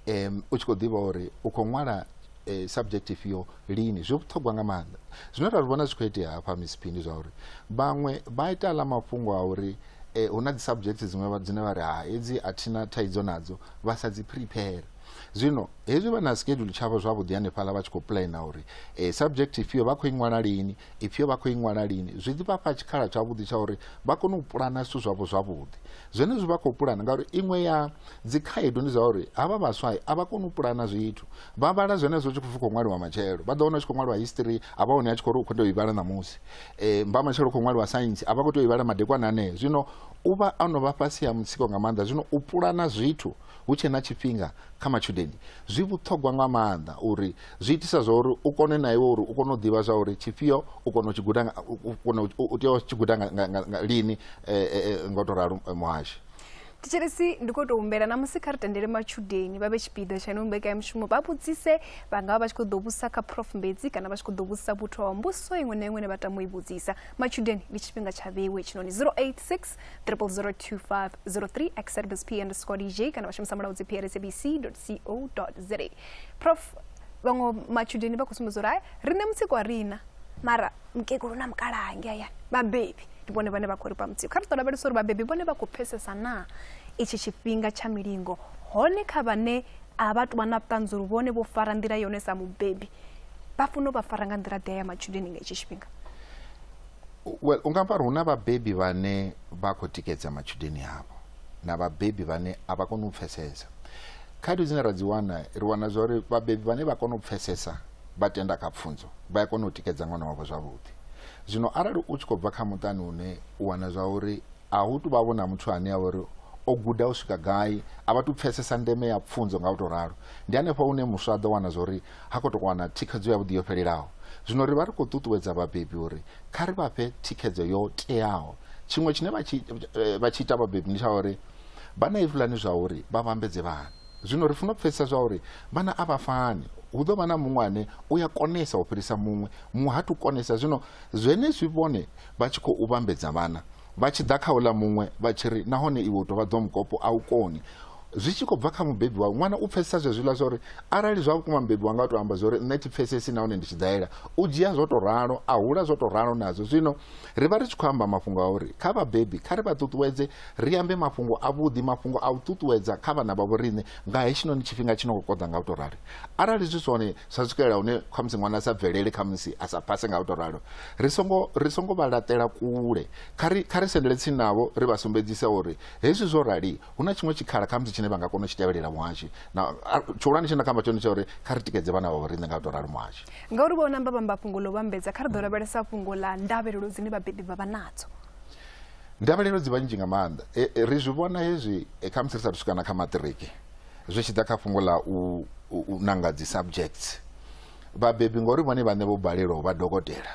um, u tshi khou ḓivha uri u khou ṅwala eh, subject ifhio lini zwi vhuṱhogwa nga maanḓa zwine ra zwi vhona zwi khou itea hafha misiphindi zwa uri vhaṅwe vha ita aḽa mafhungo a uri eh, hu na dzi subject dziṅwe dzine vha ri ha hedzi a thina thaidzo nadzo vha sa dzi prepare zwino hezwi vha na schedule tshavho zwavhuḓi hanefhaḽa vha tshi khou plana uri eh, subject ifhio vha khou i ṅwala lini ifhio vha khou i ṅwala lini zwi ḓi vhafha tshikhala tshavhuḓi tsha uri vha kone u pulana zwithu zwavho zwavhuḓi zwenezwi vha khou pulana ngauri iṅwe ya dzikhaedu ndi zwa uri havha vhaswa a vha koni u pulana zwithu vha vhala zwenezwo tshi khou ṅwaliwa matshelo vha ḓo wana tshi khou ṅwaliwa history a vha hone a tshi khou ri u khou tea u i vhala ṋamusi um mba matshelo u khou ṅwaliwa saintsi a vha khou tea u i vhala madekwana anee zwino u vha a no vha fhasi ha mutsiko nga maanḓa zwino u pulana zwithu hu tshe na tshifhinga kha matshudeni zwi vhuṱhogwa nga maanḓa uri zwi itisa zwa uri u kone na iwe uri u kone u ḓivha zwa uri tshifhio u kona u tshi guda u tea u tshi guda lini eh, eh, eh, nga u tou ralo muhashi thetshelesi ndi khou tou humbela na musi kha ri tendele matshudeni vha vhe tshipiḓa tsha ino mbekanyamushumo vha vhudzise vha nga vha vha tshi khou ḓo vhudzisa kha prof mbedzi kana vha tshi khou ḓo vhudzisa vhuthu wa mbuso iṅwe na iṅwe ne vha tama u i vhudzisa matshudeni ndi tshifhinga tsha vhewe tshinoni 086 002503 xrbs p underscore dj kana vha shumisa mulaudzi prsabc co za prof vhaṅwe matshudeni vha khou sumbedza uri hai riṋe mutsiko a rina mara mukegulu na mukalaha hange hayani vhabebi ndi vhone vhane vha khou ri fha mutsiko kha ri ḓo lavhelesa uri vhabebi vhone vha khou pfesesa naa itshi tshifhinga tsha milingo hone kha vhane a vha tuvha na vhuṱanzi uri vhone vho fara nḓila yone sa mubebi vha funa u vha fara nga nḓila ḓea ya matshudeni nga itshi tshifhinga well u nga amba uri hu na vhabebi vhane vha khou tikedza matshudeni avho na vhabebi vhane a vha koni u pfesesa khaedu dzine ra dzi wana ri wana zwa uri vhabebi vhane vha kona u pfesesa vha tenda kha pfunzo vha ya kona u tikedza ṅwana wavho zwavhuḓi zwino arali u tshi khou bva kha muṱani une u wana zwa uri a hu tu vha vho na muthu ane a vha uri o guda u swika gai a vha tu pfesesa ndeme ya pfunzo nga u tou ralo ndi hanefho hune muswa a ḓo wana zwa uri ha khou tou wana thikhedzo yavhuḓi yo fhelelaho zwino ri vha ri khou ṱuṱuwedza vhabebi uri kha ri vha fhe thikhedzo yo teaho tshiṅwe tshine vha tshi eh, ita vhabebi ndi tsha uri vha na ifulani zwa uri vha vhambedze vhana Zwino ri funa u pfesesa zwa uri vhana a vha fani. Hu ḓo vha na muṅwe ane u ya konesa u fhirisa muṅwe, muṅwe ha tu konesa. Zwino zwenezwi vhone vha tshi khou vhambedza vhana, vha tshi ḓa kha uḽa muṅwe vha tshi ri, Nahone iwe u tou vha ḓomukopo, a u koni. Zwi tshi khou bva kha mubebi wawe. Ṅwana u pfesesa zwezwiḽa zwa uri arali zwa vhukuma mubebi wanga o tou amba zwa uri nṋe thi pfesesi nahone ndi tshidaela, u dzhia zwo tou ralo, a hula zwo tou ralo nazwo. Zwino ri vha ri tshi khou amba mafhungo a uri kha vhabebi kha ri vha ṱuṱuwedze ri ambe mafhungo avhuḓi mafhungo a u ṱuṱuwedza kha vhana vha vhoriṋe nga hetshinoni tshifhinga tshi no khou koḓa nga u tou rali arali zwi zwone zwa swikelela hune khamusi ṅwana a sa bvelele khamusi a sa phase nga u tou ralo ri songo ri songo vha laṱela kule kha ri kha ri sendele tsini navho ri vha sumbedzise uri hezwi zwo rali hu na tshiṅwe tshikhala khamusi tshine vha nga kona u tshi tevhelela muhashi na tshihulwane tshine nda kha amba tshone tsha uri kha ri tikedze vhana vha vhoriṋe nga u tou ralo muhashi ngauri vho namba vhamba fhungo ḽo vhambedza kha ri ḓo lavhelesa fhungo ḽa ndavhelelo dzine vhabebi vha vha nadzo ndavhelelo dzi vha nnzhi nga maanḓa e, e, ri zwi vhona hezwi e, kha musi ri sathu swika na kha maṱiriki zwi tshi ḓa kha fhungo ḽa u, u, u nanga dzi subjects vhabebi ngori vhone vhaṋe vho balelwa u vha dokotela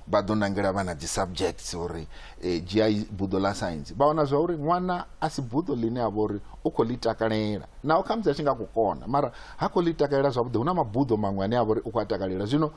vha ḓo nangela vhana dzi subjects uri e, dzhia buḓo ḽa science vha wana zwa uri ṅwana a si buḓo ḽine a vha uri u khou ḽi takalela naho kha musi a tshi nga khou kona mara ha khou ḽi takalela zwavhuḓi hu na mabuḓo maṅwe ane a vha uri u khou a takalela zwino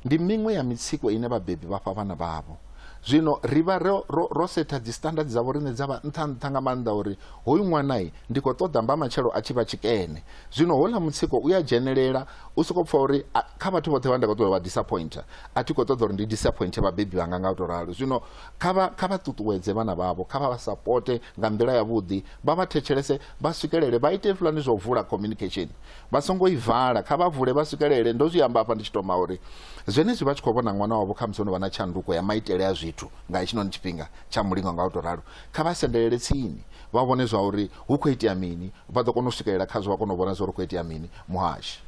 ndi miṅwe ya mitsiko ine vhabebi vha fha vhana vhavho Zwino ri vha ro, ro, ro setha dzisitandadi dzavho riṋe dza vha nṱha nṱha nga maanḓa uri hoyu ṅwanai ndi khou ṱoḓa mba matshelo a tshi vha tshikene. Zwino houḽa mutsiko u a dzhenelela, u sokou pfa uri a, kha vhathu vhoṱhe vha nda khou ṱoḓa vha disappointer, a thi khou ṱoḓa uri ndi disappointer vhabebi vhanga nga u tou ralo. Zwino kha vha, kha vha ṱuṱuwedze vhana vhavho, kha vha vha sapote nga nḓila yavhuḓi, vha vha thetshelese, vha swikelele, vha ite hezwiḽani zwa u vula communication. Vha songo i vala, kha vha vule vha swikelele. Ndo zwi amba hafha ndi tshi tou ma uri zwenezwi vha tshi khou vhona ṅwana wavho khamusi o no vha na tshanduko ya maitele a zwithu nga hetshinoni tshifhinga tsha mulingo nga u tou ralo, kha vha sendelele tsini vha vhone zwa uri hu khou itea mini, vha ḓo kona u swikelela khazwo vha kona u vhona zwa uri hu khou itea mini. Muhashi.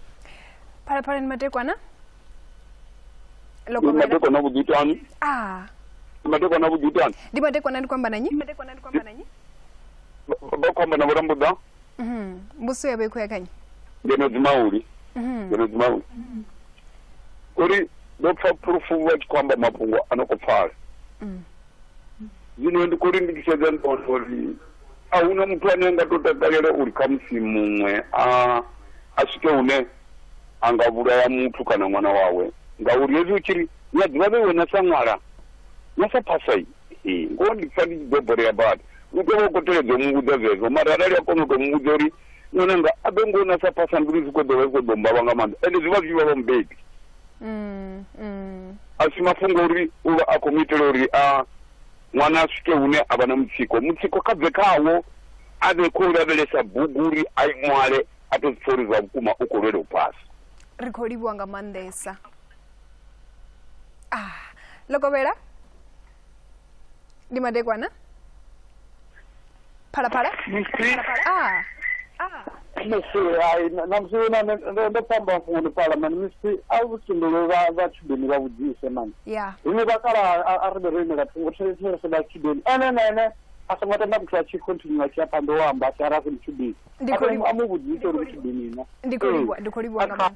Phalaphalani Madekwana. Ndi madekwana vhuḓitani. Ah. Ndi madekwana vhuḓitani. Ndi madekwana ndi khou amba na nnyi? Ndi madekwana ndi khou amba na nnyi? Vha khou amba na vho Rambuḓa. Mhm. mbusi ya vha i khou ya kha nnyi ngeno dzimauli Mhm. ngeno dzimauli uri ndo pfa phulufu vha tshi khou amba mafhungo a no khou pfala Mm. zwino ndi khou lindikiseza ndona uri a huna muthu ane a nga to takalela uri khamusi muṅwe a a swike hune a nga vhulaya muthu kana ṅwana wawe ngauri hezwi u tshi ri ni a ḓivha vhe wena sa ṅwala na sa phasa ngoho ndi pfa ndi tshi ḓo borea badi u tea vha u khou teledza u mu vhudza zwezwo mara arali a kona u tou mu vhudza uri ṅwananga a ḓo ngo na sa phasa mbilu zwi khou ḓo vha zwi khou ḓo mbavha nga maanḓa ende zwi vha zwi vha vha mubebi Mm, mm. a si mafhungo uri u vha a khou mu itela uri a ṅwana a swike hune a vha na mutsiko mutsiko kha bve khawo a vhe khou lavhelesa bugu uri a i ṅwale a to zwipfa uri zwa vhukuma u khou lwela u phasa ri khou livhuwa nga maanḓesa ah lokovhela ndi madekwana phalaphala msi ah msi ai na msi una ndo pamba funi pala mani msi a vutindulu va va chibeni va vujise mani ya ine va kala a ri ro imela thungo therese va chibeni ene na ene a songo tenda kuti a tshi continue a tshi ya phanḓa o amba a tshi ara funi chibeni Ndi khou livha. a mu vujise uri chibeni na ndi khou livhuwa ndi khou livhuwa nga maanḓa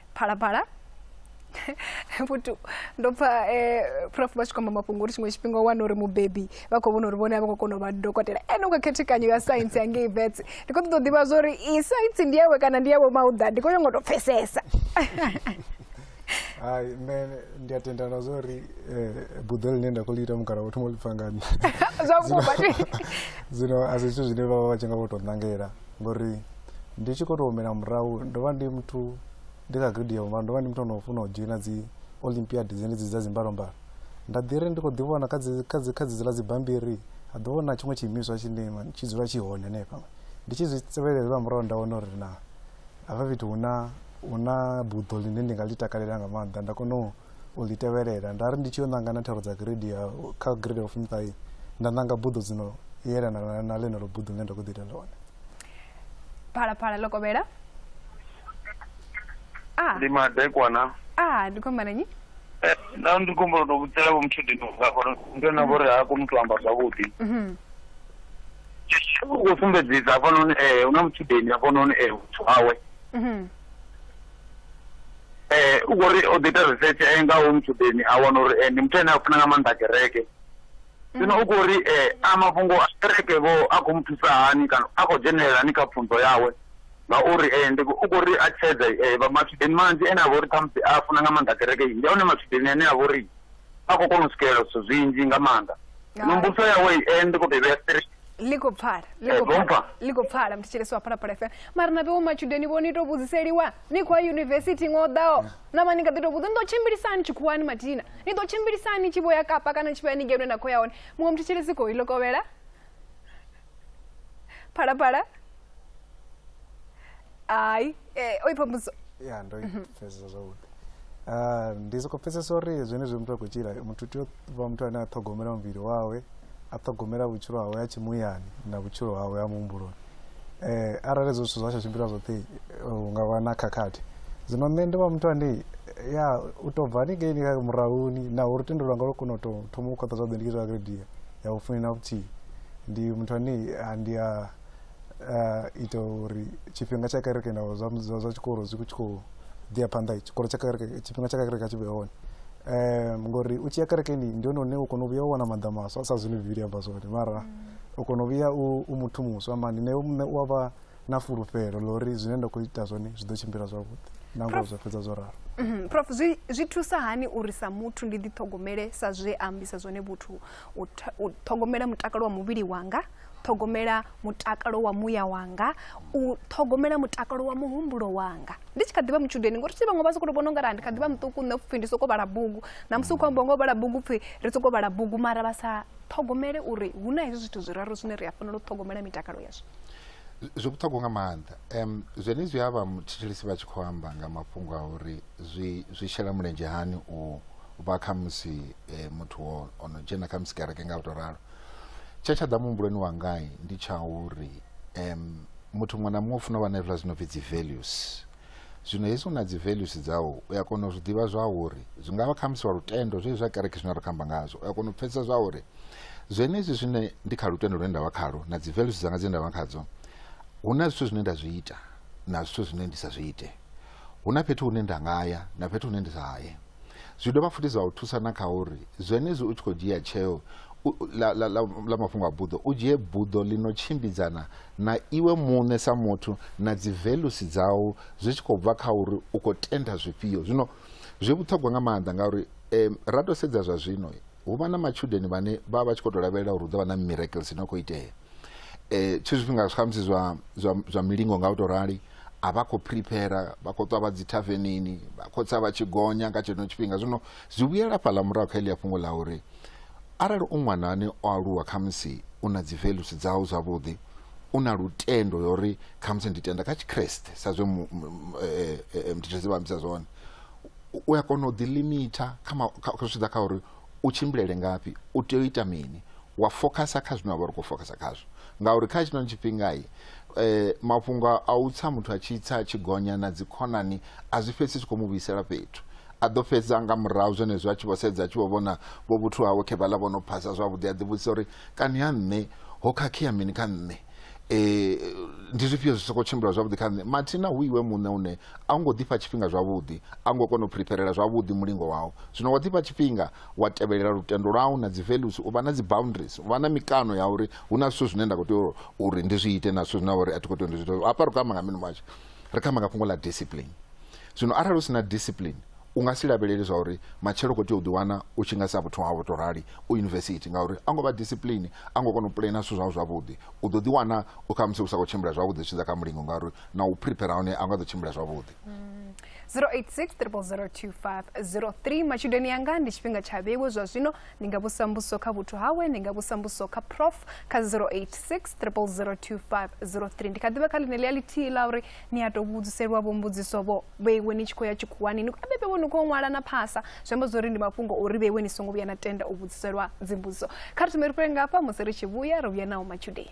phalaphala futhi ndo pfa um prof vha tshi khou amba mafhungo uri tshiṅwe tshifhinga u wana uri mubebi vha khou vhona uri vhone a vha khou kona u vha dokotela ene u kha khethekanyo ya saintsi ya ngei vets ndi khou ṱoḓa u ḓivha zwa uri i saintsi ndi yawe kana ndi yawe mauḓa ndi khou nyanga u tou pfesesa hai nṋe ndi a tendana zwa uri um buḓo ḽine nda khou ḽi ita mukala wo thoma u ḽi pfa nga nṋe zwa vhukuma zwino a si zwithu zwine vha vha vha tshi nga vho tou ṋangela ngori ndi tshi khou tou humela murahu ndo vha ndi muthu ndi kha grade ya vhumalo ndo vha ndi muthu ono funa u dzhoina dzi olympiad dzenedzi dza dzimbalombalo nda ḓi ri ndi khou ḓi vhona kha dzi- kha dzi- kha dzedzi ḽa dzibambiri ha ḓo vhona tshiṅwe tshiimiswa tshine ma- tshi dzula tshi hone hanefha ndi tshi zwi tevhelela lwa murahu nda wana uri na hafha fhethu hu na hu na buḓo ḽine ndi nga ḽi takalela nga maanḓa nda kona u u ḽi tevhelela nda ri ndi tshi yo ṋanga na thero dza grade ya kha grade ya fumi ṱahe nda ṋanga buḓo dzino yelana na ḽeneḽo buḓo ḽine nda khou ḓi ita ḽone phalaphala ḽo kovhela ah. ndi madekwana a ah, ndi khou amba na nyi eh, na ndi khou amba tou vhudzela vho muthu dino nga gore ndo na vhori ha koni u tou amba zwavhuḓi mhm. u khou sumbedzisa hafhanoni ee eh, hu na mutshudeni hafhanoni ee muthu wawe mhm. u khou ri o ḓi ita research eh, nga hoyu mutshudeni a wana uri eh, ndi muthu ane a funa nga maanḓa kereke zwino mm. u khou ri eh, a mafhungo a kereke vho a khou mu thusa hani kana a khou dzhenelela ni kha pfunzo yawe ngauri eh, ndi u khou ri a tshedza eh, vha matshudeni manzhi ane a vha uri khamusi a funa nga maanḓa kereke ndi a hone matshudeni ane a vha uri a khou kona u swikelela zwithu zwinzhi nga maanḓa nombuso yawe eh, ndi khou tou vhea straight ḽi khou pfala ḽi khou eh, pfala ḽi khou pfala mthetshelesi wa phalaphala fm mara na vhewo matshudeni vho ni tou vhudziseliwa ni khou ya yunivesithi iṅwe o ḓaho na vha ni kha ḓi tou vhudza ni ḓo tshimbilisani tshikhuwani mathina ni ḓo tshimbilisani tshi vho ya kapa kana tshi vho ya ni ngeno na khou ya hone muṅwe mthetshelesi khou ilokovhela phalaphala hai eh, oipa muso ya ndo pfesesa zwavhuḓi Ah, ndi soko pfesesa uri zwenezwi muthu a khou tshila muthu u tea u vha muthu ane a ṱhogomela muvhili wawe a ṱhogomela vhutshilo hawe ha tshimuyani na vhutshilo hawe ha muhumbuloni eh, arali ezwo zwithu zwa tsha tshimbila zwoṱhe eh, hu nga vha na khakhathi zwino nṋe ndi vha muthu ane ya u tou bva hanikeini kha murahuni na uri tendo lwanga lwo kona u tou thoma u khwaṱha zwavhuḓi ndi tshi zwa grade ya vhufumi na vhuthihi ndi muthu ane ah, ndi a uh, ita uri tshifhinga tsha kereke na zwa zwa tshikolo zwi tshi khou ḓia phanḓa tshikolo tsha kereke tshifhinga tsha kereke tshi vhe hone um ngori u tshi ya kerekeni ndi hone hune u kona u vhuya u wana maḓa maswa sa zwine bivhili amba zwone mara mm. u kona u vhuya u muthu muswa mani na iwe muṋe u a vha na fulufhelo ḽa uri zwine nda khou ita zwone zwi ḓo tshimbila zwavhuḓi na ngoho zwa fhedza zwo ralo mhm. prof zwi, zwi thusa hani uri sa muthu ndi ḓiṱhogomele sa zwe a ambisa zwone vhuthu u ṱhogomela mutakalo wa muvhili wanga ṱhogomela mutakalo wa muya wanga u ṱhogomela mutakalo wa muhumbulo wanga ndi tshi kha ḓivha mutshudeni ngori si vhaṅwe vha sokou vhona ungari ndi kha ḓivha muṱuku nṋe pfhi ndi sokou vhala bugu na musi u khou amba ngo vhala bugu pfhi ri sokou vhala bugu mara vha sa ṱhogomele uri hu na hezwi zwithu zwiraru zwine ri a fanela u ṱhogomela mitakalo yazwo zwi vhuṱhogwa nga maanḓa um zwene zwi a vha thetshelesi vha tshi khou amba nga mafhungo a uri zwi zwi shela mulenzhe hani u vha khamusi um eh, muthu o no dzhena khamusi kereke nga u to ralo tshe tsha ḓa muhumbuloni wangai ndi tsha uri um muthu muṅwe na muṅwe u funa u vha na hezwiḽa zwi no pfi dzi values zwino hezwi u na dzi values dzau u a kona u zwi ḓivha zwa uri zwi nga vha khamusi wa lutendo zwezwi zwa kereke zwine ra khou amba ngazwo u a kona u pfesesa zwa uri zwenezwi zwine ndi kha lutendo lune nda vha khalo na dzi values dzanga dzine nda vha khadzo hu na zwithu zwine nda zwi ita na zwithu zwine ndi sa zwi ite Hu na fhethu hune nda nga ya na fhethu hune ndi sa ye. Zwi dovha futhi zwa u thusa na kha uri zwenezwi u tshi khou dzhia tsheo ḽa mafhungo a buḓo, u dzhie buḓo ḽi no tshimbidzana na iwe muṋe sa muthu na dzi velusi dzau zwi tshi khou bva kha uri u khou tenda zwifhio. Zwino zwi vhuṱhogwa nga maanḓa ngauri ra tou sedza zwa zwino hu vha na matshudeni vhane vha vha vha tshi khou tou lavhelela uri hu ḓo vha na miracles ino khou itea. Tshiṅwe zwifhinga khamusi zwa zwa zwa milingo nga u tou rali a vha khou prepare vha khou ṱwa vha dzi thavenini vha khou tsa vha tshi gonya nga tsheno tshifhinga zwino zwi vhuyela fhaḽa murahu kha eḽia fhungo ḽa uri arali u ṅwana ane o aluwa khamusi u na dzi values dzau zwavhuḓi u na lutendo ya uri khamusi ndi tenda kha tshikreste sa zwe mditshedzi eh, eh, eh, vha ambisa zwone u a kona u ḓilimitha kha zwi ḓa kha uri u tshimbilele ngafhi u tea u ita mini wa fokhasa kha zwine wa vha ri khou fokhasa khazwo ngauri kha tshinoni tshifhingai um eh, mafhungo a u tsa muthu a tshi tsa tshi gonya na dzikhonani a zwi fhedzi zwi khou mu vhuisela fhethu a ḓo fhedza nga murahu zwenezwo a tshi vho sedza a tshi vho vhona vho vhuthu hawe khe vhaḽa vho no phasa zwavhuḓi a ḓivhudzisa uri kani ha nṋe ho khakhea mini kha nṋe eh, ndi zwifhio zwi sokou tshimbila zwavhuḓi kha nṋe mathina hu iwe muṋe une a u ngo ḓifha tshifhinga zwavhuḓi a u ngo kona u preparela zwavhuḓi mulingo wau zwino wa ḓifha tshifhinga wa tevhelela lutendo lwau na dzi values u vha na dzi boundaries u vha na mikano ya uri hu na zwithu zwine nda khou tea uri ndi zwi ite na zwithu zwine uri a thi khou tea uri ndi zwi ite hafha ri khou amba nga mini manje ri khou amba nga fhungo ḽa discipline zwino arali u si na discipline u nga si lavhelele zwa uri matshelo u khou tea u ḓiwana u tshi nga sa vhuthu hau to rali u yunivesithi ngauri a ngo vha discipline a ngo kona u pulena zwithu zwau zwavhuḓi u ḓo ḓiwana u kha musi u sa khou tshimbila zwavhuḓi zwi tshidza kha mulingo ngauri na u prepare hone a nga ḓo tshimbila zwavhuḓi 0860002503 mm. matshudeni yanga ndi tshifhinga tsha vheiwe zwa zwino ndi nga vhusa mbuso kha vhuthu hawe ndi nga vhusa mbuso kha prof kha 0860002503 ndi kha ḓivha kha ḽine ḽi a ḽithihi ḽa uri ni a tou vhudziselwa vho mbudziso vho vheiwe ni tshi khou ya tshikhuwani ni khou bebe vho ni khou ṅwala na phasa zwi amba zwori ndi mafhungo uri vheiwe ni songo vhuya na tenda u vhudziselwa dzimbudziso kha ri thome ri fhele ngafha musi ri tshi vhuya ri vhuya nawo matshudeni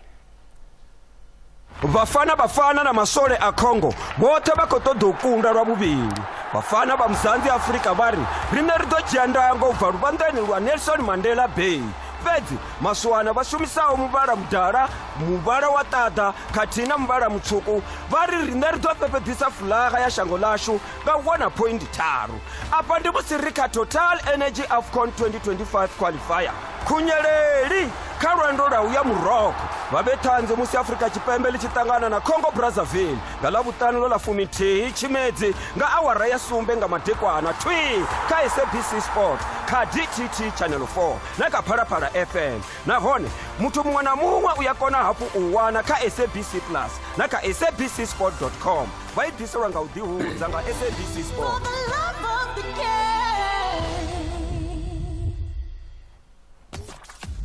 vhafana vhafana na maswole a congo vhoṱhe vha khou ṱoḓa u kunda lwa vhuvhili vhafana vha muzanzi afurika vha ri riṋe ri ḓo dzhia ndango u bva luvhanḓani lwa nelson mandela bay fhedzi maswana vha shumisaho muvhala mudala muvhala wa ṱaḓa khathihi na muvhala mutswuku vha ri riṋe ri ḓo fhefheḓisa fulaga ya shango ḽashu nga u wana phoindi tharu afha ndi musi ri kha total energy afcon 2025 qualifier khunyeleli kha lwendo lwa u ya muroko vha vhe ṱhanzi musi afrika tshipembe ḽi tshi ṱangana na congo brazzaville nga ḽa vhuṱanu ḽo ḽa fumithihi tshimedzi nga awara ya sumbe nga madekwana twi kha sabc sport kha dtt channel 4 na kha phalaphala fm nahone muthu muṅwe na muṅwe u ya kona hafhu u wana kha sabc plus na kha sabc sport com vha i ḓiselwa nga u ḓihudza nga sabc sport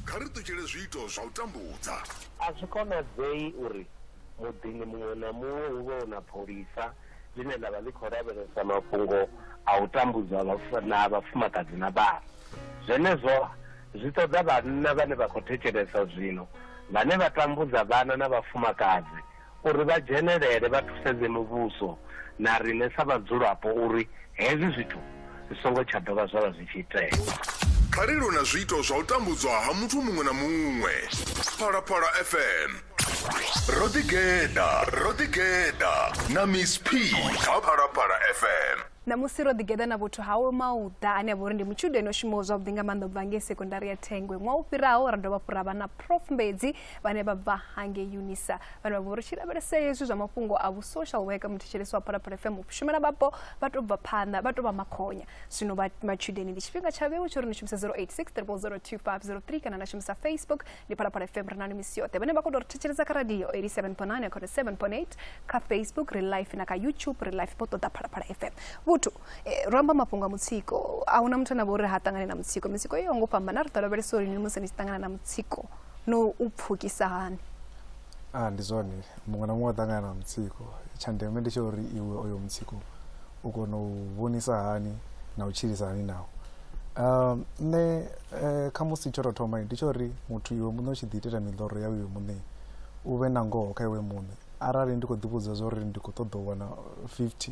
kha ri ṱutshele zwiito zwa u tambudza a zwi konadzei uri muḓini muṅwe na muṅwe hu vhe na pholisa ḽine ḽa vha ḽi khou lavhelesa mafhungo a u tambudza na vhafumakadzi na vhana zwenezwo Zwi ṱoḓa vhanna vhane vha khou thetshelesa zwino, vhane vha tambudza vhana na vhafumakadzi, uri vha dzhenelele vha thusedze muvhuso na riṋe sa vhadzulapo uri hezwi zwithu zwi songo tsha dovha zwa vha zwi tshi itea. Kha ri lwe na zwiito zwa u tambudzwa ha muthu muṅwe na muṅwe. Phalaphala FM. Ro ḓigeḓa, ro ḓigeḓa na Miss P kha Phalaphala FM. Ṋamusi ro ḓigeḓa na vhuthu hawe Mauḓa ane a vha uri ndi mutshudeni o shumaho zwavhuḓi nga maanḓa u bva ngei sekondari ya Thengwe. Ṅwaha u fhiraho ra dovha hafhu ra vha na Prof Mbedzi vhane vha bva hangei UNISA vhane vha vha uri tshi lavhelesea hezwi zwa mafhungo a vhu-social worker muthetshelesi wa Phalaphala FM shumela vhapo vha tou bva phanḓa vha tou vha makhonya. Zwino vha matshudeni ndi tshifhinga tsha vhewe tsho ri ni shumise 086 0002503 kana na shumisa Facebook ni phalaphala fm ri na ni misi yoṱhe vhane vha khou tou ri thetshelesa kha radio 87.9 khone 7.8 kha facebook ri life na kha youtube ri life vho ṱoḓa phalaphala fm vhuthu eh, ro amba mafhungo a mutsiko a huna muthu ane vha uri ha ṱangane na mutsiko mitsiko iyo ngo fhambana ri ḓo lavhelesa uri ni musi ni tshi ṱangana na mutsiko no u pfukisa hani a ndi zwone muṅwe na muṅwe o ṱangana na mutsiko tsha ndeme ndi tsha uri iwe oyo mutsiko u kona u vhonisa hani na u tshilisa hani naho um nṋe eh, kha musi tsho tou thoma ndi tsho uri muthu iwe muṋe u tshi ḓi itela miḽoro yau iwe muṋe u vhe na ngoho kha iwe muṋe arali ndi khou ḓivhudza zwa uri ndi khou ṱoḓa u wana 50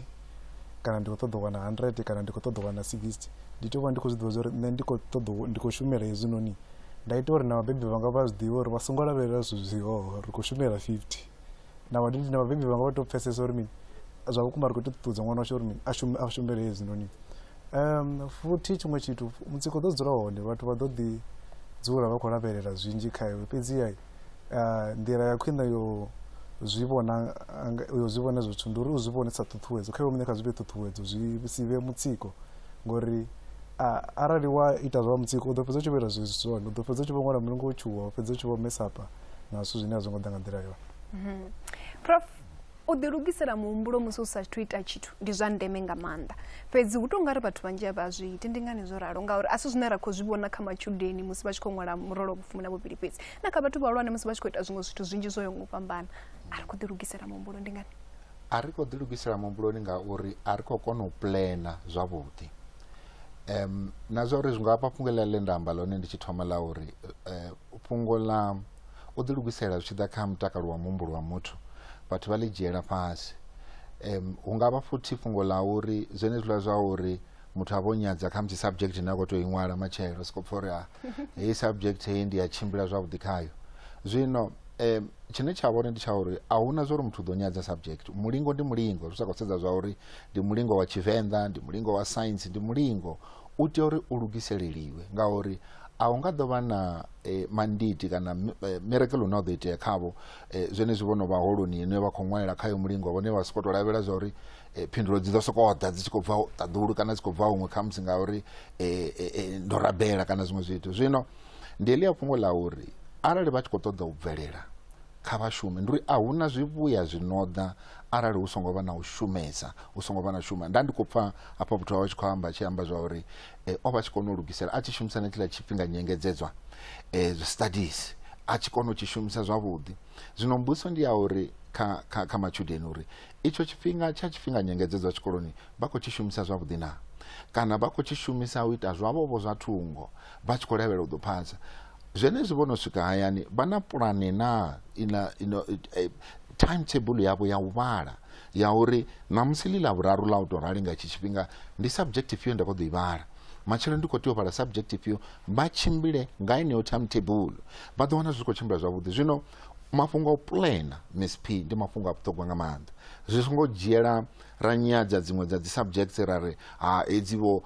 kana ndi khou ṱoḓa u wana 100 kana ndi khou ṱoḓa u wana 60 ndi tea u vha ndi khou zwi ḓivha zwa uri nṋe ndi khou ṱoḓa u- ndi khou shumela hezwinoni nda ita uri na vhabebi vhanga vha zwi ḓivhe uri vha songo lavhelela zwithu zwihoho ri khou shumela 50 na vadidi na vabebi vanga vatopfesesa uri mini zva vhukuma ri khou ita ṱuṱuwedza ṅwana washo uri mini a shume a shumele hezwi noni um futhi tshiṅwe tshithu mutsiko ḓo dzula hone vhathu vha ḓo ḓi dzula vha khou lavhelela zwinzhi kha iwe fhedziha ah, nḓila ya khwine yo zwi vhona anga- yo zwi vhona zwithu ndi uri u zwi vhone sa ṱhuṱhuwedzo kha iwe muṋe kha zwi vhe ṱhuṱhuwedzo zwi si vhe mutsiko ngori ah, arali wa ita zwa mutsiko u ḓo fhedza u tshi vho ita zwezwi zwone u ḓo fhedza u tshi vho ṅwala mulungu wo tshuwa u fhedza u tshi vho mesapa na zwithu zwine a zwo ngo ḓa nga nḓila yone mhm. prof u ḓilugisela muhumbulo musi u sa thu ita tshithu ndi zwa ndeme nga maanḓa fhedzi hu tou nga ri vhathu vhanzhi a vha zwi iti ndi ngani zwo ralo ngauri a si zwine ra khou zwi vhona kha matshudeni musi vha tshi khou ṅwala murolo vhufumi na vhuvhili fhedzi na kha vhathu vhahulwane musi vha tshi khou ita zwiṅwe zwithu zwinzhi zwo yo ngo fhambana a ri khou ḓilugisela muhumbulo ndi ngani a ri khou ḓilugisela muhumbuloni ngauri a ri khou kona u plana zwavhuḓi um na zwa uri zwi nga vha fhungo ḽa ḽe nda amba ḽone ndi tshi thoma ḽa uri eh, fhungo ḽa u ḓilugisela zwi tshi ḓa kha mutakalo wa muhumbulo wa muthu vhathu vha ḽi dzhiela fhasi um hu nga vha futhi fhungo ḽa uri zwenezwiḽa zwa uri muthu a vho nyadza kha musi subject ine a khou tou i ṅwala matshelo soko pfa uri a ah, heyi subject heyi ndi ya tshimbila zwavhuḓi khayo zwino um tshine tsha vhone ndi tsha uri a huna zwa uri muthu u ḓo nyadza subject mulingo ndi mulingo zwi sa khou sedza zwa uri ndi mulingo wa tshivenḓa ndi mulingo wa science ndi mulingo u tea uri u lugiseleliwe ngauri a hu nga ḓo vha na eh, manditi kana eh, miracle une wa ḓo itea khavho eh, zwenezwi vho no vha holoni ine vha khou ṅwalela khayo mulingo vhone vha sokou tou lavhelela zwa uri eh, phindulo dzi ḓo sokou ḓa dzi tshi khou bva ṱaḓulu kana dzi khou bva huṅwe khamusi ngauri eh, eh, eh, ndo rabela kana zwiṅwe zwithu zwino ndi elia fhungo ḽa uri arali vha tshi khou ṱoḓa u bvelela kha vhashumi ndi uri a hu na zwivhuya zwi no ḓa arali hu songo vha na u shumesa hu songo vha na shuma nda ndi khou pfa hafha muthu wawe tshi khou amba tshi amba zwa uri eh, o vha tshi kona u lugisela a tshi shumisa na tshiḽa tshifhinga nyengedzedzwa eh, zwi studies a tshi kona u tshi shumisa zwavhuḓi zwino mbuso ndi ya uri kha, kha, kha matshudeni uri itsho tshifhinga tsha tshifhinga nyengedzedzwa tshikoloni vha khou tshi shumisa zwavhuḓi na kana vha khou tshi shumisa u ita zwavho vho zwa thungo vha tshi khou lavhelela u ḓo phasa zwenezwi vho no swika hayani vha na pulane na ina ino eh, timetable yavho ya u vhala ya uri ṋamusi ḽi ḽa vhuraru ḽa u tou rali nga itshi tshifhinga ndi subject ifhio nda khou ḓo i vhala matshelo ndi khou tea u vhala subject ifhio vha tshimbile nga eneyo timetable vha ḓo wana zwi khou tshimbila zwavhuḓi zwino mafhungo a u plana miss p ndi mafhungo a vhuṱhogwa nga maanḓa zwi songo dzhiela ra nyadza dziṅwe dza dzi subjects ra ri ha edzi vho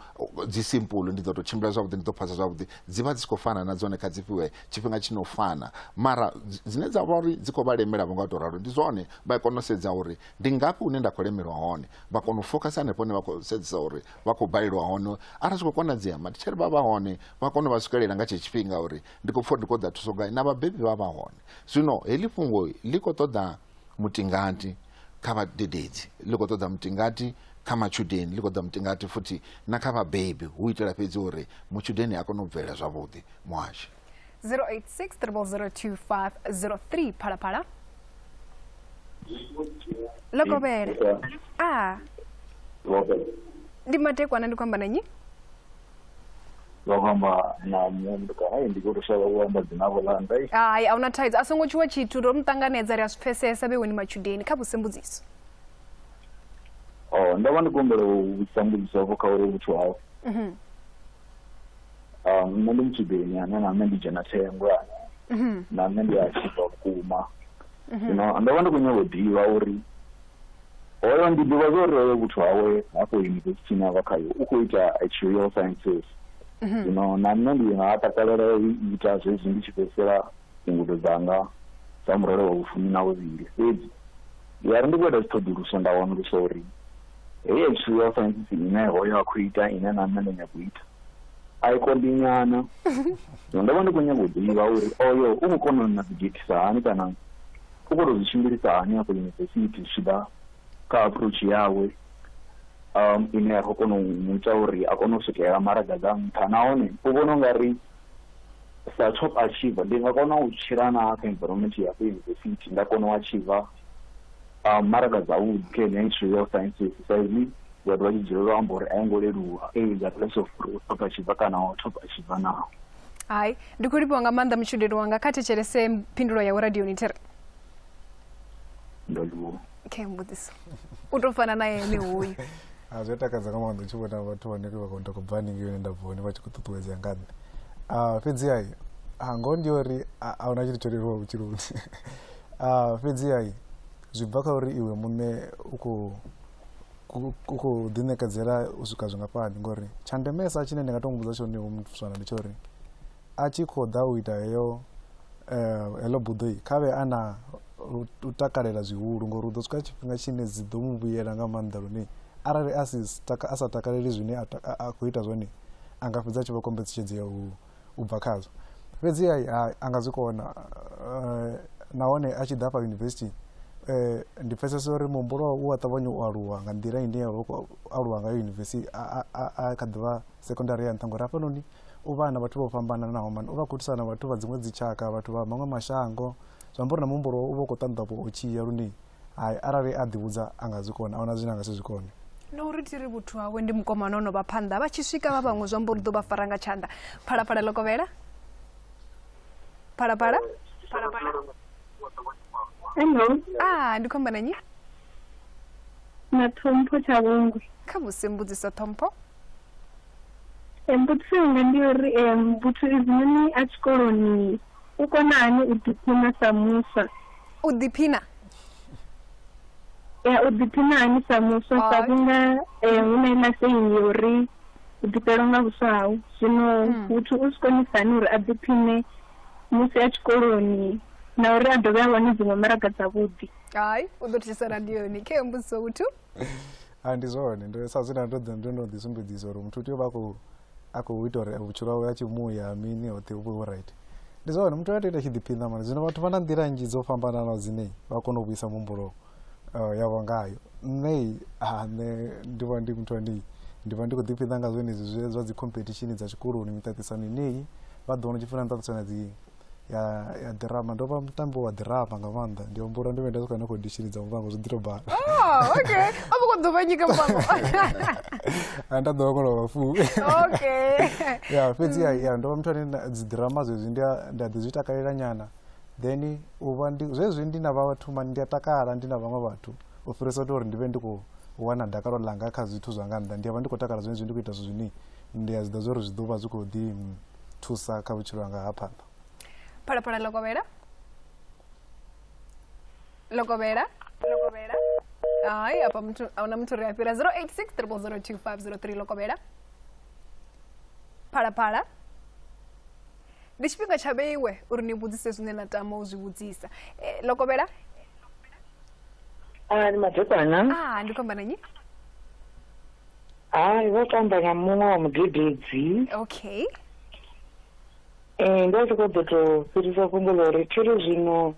dzi simple ndi ḓo to tshimbila zwavhuḓi ndi ḓo phasa zwavhuḓi dzi vha dzi si khou fana na dzone kha dzi fhiwe tshifhinga tshi no fana mara dzine dza vha uri dzi khou vha lemela vho nga to ralo ndi zwone vha kona u sedza uri ndi ngafhi hune nda khou lemelwa hone vha kona u focus hanefho hune vha khou sedzisa uri vha khou balelwa hone arali zwi khou konadzea matitshere vha vha hone vha kona u vha swikelela nga tshe tshifhinga uri ndi khou pfha ndi khou ḓa thuso gai na vhabebi vha vha hone zwino heḽi fhungo ḽi khou ṱoḓa mutingati kha vhadededzi ḽi khou ṱoḓa mutingati kha matshudeni ḽi khou ṱoḓa mutingati futhi na kha vhabebi hu itela fhedzi uri mutshudeni a kone u bvelela zwavhuḓi muhashi 08600253 phalaphala lokovhele a ndi madekwana ndi khou amba na nyi vha khou amba na muṅwe muthu kana hey, ndi khou tou shavha u amba dzina vho ḽa ndai hai a huna thaidzo a songo tshuwa tshithu ro mu ṱanganedza ri a zwi pfesesa vheweni matshudeni kha vhusembudziso oh ndo vha ndi kumbela u vhudzisa mbudziso vho kha uri vhuthu hau Mhm, um nṋe ndi mutshudeni ane na nṋe ndi dzhena thengo ane mhm, na nṋe ndi a tshifha vhukuma mhm. zwino ndo vha ndi khou nyanga u ḓivha uri Hoyo ndi ḓivha zwa uri hoyo vhuthu hawe hafho yunivesithini a vha khayo u khou ita actuarial sciences zwino na nṋe ndi nga takalela u ita zwezwi ndi tshi fhedzisela ngudo dzanga dza murole wa vhufumi na vhuvhili fhedzi ya ri ndi khou ita dziṱhoḓuluso nda wanulusa uri heyi actuarial sciences ine hoyo a khou ita ine na nṋe ndo nyaga u ita a i konḓi nyana zwino ndo vha ndi khou nyaga u ḓivha uri oyo u khou kona na ḓidzhethisa hani kana u khou tou zwi tshimbilisa hani afho yunivesithi zwi tshi ḓa kha approach yawe um ine ya khou kona u mu ita uri a kone u swikelela maraga dza nṱha nahone u vhona u nga ri sa top achiever ndi nga kona u tshila na kha environment ya yunivesithi nda kona u achiever um maraga dzavhuḓi kha ine history ya sciences sa izwi vhathu vha tshi dzulela u amba uri a yo ngo leluwa e is a place of top achiever kana top achiever naho hai ndi khou livhiwa nga maanḓa mutshudeni wanga kha thetshelese phindulo yawe radioni thi ri okay mbudziso u tou fana na ene hoyu ah, zwi takadza nga maanḓa u tshi vhona vhathu vhane vha khou tou bva haningei hune nda bva hone vha tshi khou ṱuṱuwedzea nga nṋe ah, fhedzi ai ah, ngoho ndi uri a huna tshithu tsho leluwa vhutshiloni fhedzi ai zwi bva kha uri iwe muṋe u khou ku khou ḓiṋekedzela u swika zwingafhani ngori tsha ndemesa tshine ndi nga to muvhudza tshone hu mutuswana ndi tsha uri a tshi khou ḓa u ita heyo eh, heḽo buḓoi kha vhe a na u takalela zwihulu ngori u ḓo swika tshifhinga tshine dzi ḓo mu vhuyela nga maanḓa lune arali a sa takaleli zwine a khou ita zwone a nga fhedza a tshi vha kombetshedzi ya huwo u bva khadzo fhedzi a, a nga zwi kona uh, nahone a tshi ḓa fha yunivesithi eh, ndi pfesesa uri muhumbulo wawe u a ṱavhanya u aluwa nga nḓila ine ya khou aluwa ngayo yunivesithi a kha ḓivha sekondari ya nṱha ngori hafhanoni u vha na vhathu vho fhambananaho mani u vha khou thusana vhathu vha dziṅwe dzitshaka vhathu vha maṅwe mashango zwi amba uri na muhumbulo u vha u khou ṱanḓavha u tshiya lune hai arali a ḓivhudza a nga zwi kona a huna zwine a nga si zwi kone na uri ti ri vhuthu hawe ndi mukomana ono vha phanḓa vha tshi swika vha vhaṅwe zwi amba uri ḓo vha fara nga tshanḓa phalaphala ḽo kovhela phalaphala hello a ah, ndi khou amba na nyi na ṱhompho tsha vhungwe kha musi mbudziso ṱhompho mbudziso yanga ndi uri um muthu izinoni a tshikoloni U kona hani u ḓiphina sa muswa? U ḓiphina? Ya, u ḓiphina hani sa muswa sa vhunga eh, hu na iḽa seini ya uri u ḓifhelwa nga vhuswa hau zwino hmm. muthu u si konisa hani uri a ḓiphine musi a tshikoloni na uri a dovhe a wane dziṅwe maraga dzavhuḓi hai u ḓo thusisa radioni khe mbudziso vhuthu a ndi zwone sa zwina ndo ḓi sumbedzisa uri muthu u tea u vha khou a khou ita uri vhutshilo hawe a tshi muya mini hoṱhe hu vhe hu right ndi zwa uri muthu a tea ita tshi ḓiphiṋa mani zwino vhathu vha na nḓila nnzhi dzo fhambananaho dzine vha kona u vhuisa muhumbulo eh, yavho ngayo nṋei ha nṋe ndi vha ndi muthu anei ndi vha ndi khou ḓiphiṋa nga zwenezwi zwe zwa dzi competition dza tshikoloni miṱaṱisano ineyi vha ḓo wana tshifuna miṱaṱisano ya dzi ya ya ḓirama ndo vha mutambi wa ḓirama nga maanḓa ndi humbula ndi vhe nda soka na khou dishini dza muvhango zwi ḓi tou bala Oh, okay. A vho khou ḓuvha nyika muvhango. Ah, nda ḓo koloba fu Okay. ya fhedzi ya ya ndo vha muthu ane nda- dzi ḓirama zwezwi ndi a- nda ḓi zwi takalela nyana then u vha ndi zwezwi ndi na vhathu mani ndi a takala ndi na vhaṅwe vhathu u fhirisa u tou uri ndi vhe ndi khou wana dakalo ḽanga kha zwithu zwa nga nnḓa ndi a vha ndi khou takala zwenezwi ndi khou ita zwithu zwine ndi a zwi ḓa zwa uri zwi ḓo vha zwi khou ḓi mm, thusa kha vhutshilo hanga ha phanḓa phalaphala lokovhela lokovhela lokovhela hai apa muthu ahuna muthu ri a fhira 086 002503 lokovhela phalaphala ndi tshifhinga tsha vheiwe uri ni vhudzise zwine na tama u zwi vhudzisa eh, lokovhela ah, ni madekwana ah, ndi khomba nanyi hai vha to amba na muṅwe wa mudededzi okay um nda tshi khou ḓo tou fhirisa fhungo ḽa uri thi ri zwino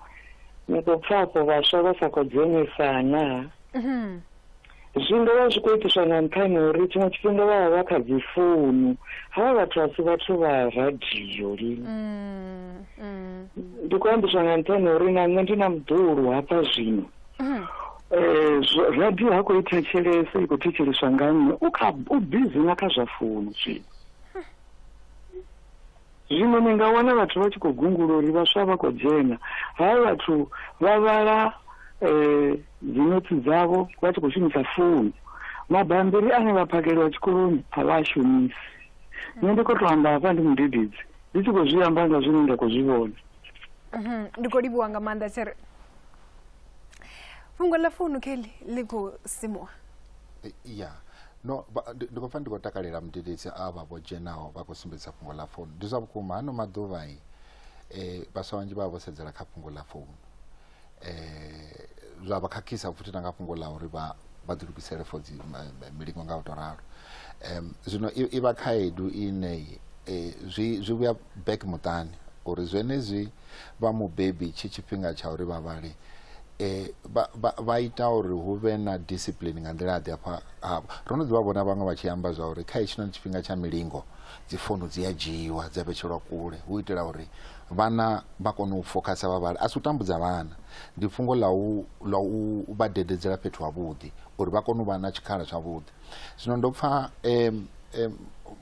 ni khou pfa afho vhaswa vha sa khou dzhenisa naa Mhm. zwi nga vha zwi khou itiswa nga nṱhani ha uri tshiṅwe tshifhinga vha vha vha kha dzi founu havha vhathu a si vhathu vha radio lini Mm, mm. ndi khou ambiswa nga nṱhani ha uri na nṋe ndi na muḓulu hafha zwino mm. Eh, radio ha khou ithetshelese i khou thetsheleswa nga nnyi u kha u bizi na kha zwa founu zwino zwino ni nga wana vhathu vha tshi khou gungula uri vhaswa vha khou dzhena ha vhathu vha vhala um dzinotsi dzavho vha tshi khou shumisa founu mabambiri ane vha phakeliwa tshikoloni a vha a shumisi nṋe ndi khou tou amba hafha ndi mudededzi ndi tshi khou zwi amba nga zwine nda khou zwi vhona mhm, ndi khou livhuwa nga maanḓa tshere fhungo ḽa founu kelly ḽi khou simuwa eh, ya no ndi khou pfa ndi khou takalela mudededzi a vha vho dzhenaho vha khou sumbedza fhungo ḽa founu ndi zwa vhukuma hano maḓuvha i um vhaswa vhanzhi vha vha vho sedzela kha fhungo ḽa founu um zwa vha khakhisa futhi na nga fhungo ḽa uri vha vha ḓilugisele for dzi milingo nga u to ralo um zwino i vha khaedu ine zwi zwi vhuya back muṱani uri zwenezwi vha mubebi tshi tshifhinga tsha uri vha vhale eh, vha, vha, vha ita uri hu vhe na discipline nga nḓila ḓi afha havho ro no ḓi vha vhona vhaṅwe vha tshi amba zwa uri kha hetshinoni tshifhinga tsha milingo dzi founu dzi a dzhiiwa dza vhetshelwa kule hu itela uri vhana vha kone u fokhasa vha vhale a si u tambudza vhana ndi fhungo ḽa u ḽa u vha dededzela fhethu havhuḓi uri vha kone u vha na tshikhala tshavhuḓi zwino ndo pfa um, um,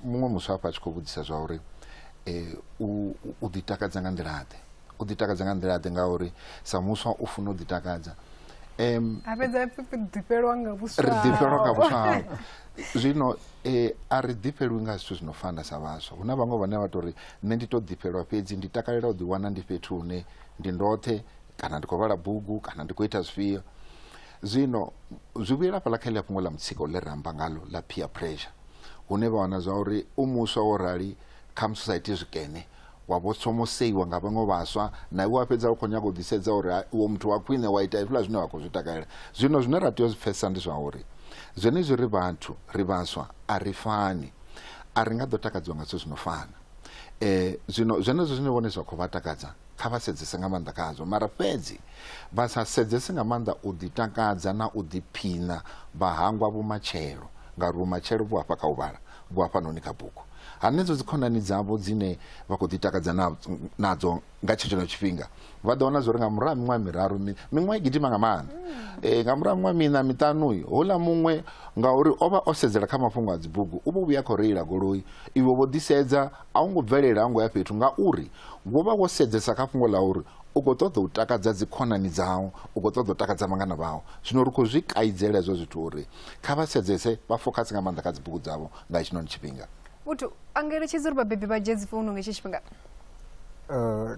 muṅwe muswa hafha a tshi khou vhudzisa zwa uri um u, u- u ḓitakadza nga nḓila ḓe u ḓitakadza nga nḓila ḓe ngauri sa muswa u funa u ḓitakadza um, a fhedza a pfi- ḓifhelwa nga vhuswa ri ḓifhelwa nga hao. vhuswa hao zwino eh, a ri ḓifhelwi nga zwithu zwino fana sa vhaswa hu na vhaṅwe vhane vha tou ri nṋe ndi tou ḓifhelwa fhedzi ndi takalela u ḓiwana ndi fhethu hune ndi ndoṱhe kana ndi khou vhala bugu kana ndi khou ita zwifhio Zwino zwi vhuyela hafhaḽa kha ḽia fhungo ḽa mutsiko ḽe ra amba ngalo ḽa peer pressure hune vha wana zwa uri u muswa wo rali kha musi sa iti zwikene wa vho somoseiwa nga vhaṅwe vhaswa na iwe wa fhedza u khou nyaga u ḓisedza uri iwe muthu wa khwine wa ita hezwiḽa zwine wa khou zwi takalela zwino zwine ra tea u zwi pfhesesa ndi zwa uri zwenezwi ri vhathu ri vhaswa a ri fani a ri nga ḓo takadziwa nga zwithu zwi no fana um zwino zwenezwo zwine vhone zwa khou vha takadza kha vha sedzese nga maanḓa khazwo mara fhedzi vha sa sedzese nga maanḓa u ḓitakadza na u ḓiphina vha hangwa vhumatshelo ngauri vhumatshelo vhu afha kha u vhala vhu afhanoni kha bugu hanedzo dzikhonani dzavho dzine vha khou ḓitakadza nadzo nga tshetsheneo tshifhinga vha ḓo wana zwori nga murahu miṅwaha miraru miṅwaha i gidima nga maanḓa um nga murahu miṅwaha miṋa miṱanuyi houḽa muṅwe ngauri o vha o sedzela kha mafhungo a dzibugu u vho vhuya khou reila goloi iwe vho ḓisedza a wu ngo bvelela ha ngo ya fhethu ngauri wo vha wo sedzesa kha fhungo ḽa uri u khou ṱoḓa u takadza dzikhonani dzau u khou ṱoḓa u takadza vhangana vhau zwino ri khou zwi kaidzela hezwo zwithu uri kha vha sedzese vha fokhasi nga maanḓa kha dzibugu dzavho nga hetshinoni tshifhinga muthu a ngeletshedza uri vhabebi vha dzhie dzifounu nga hetshi tshifhinga eh,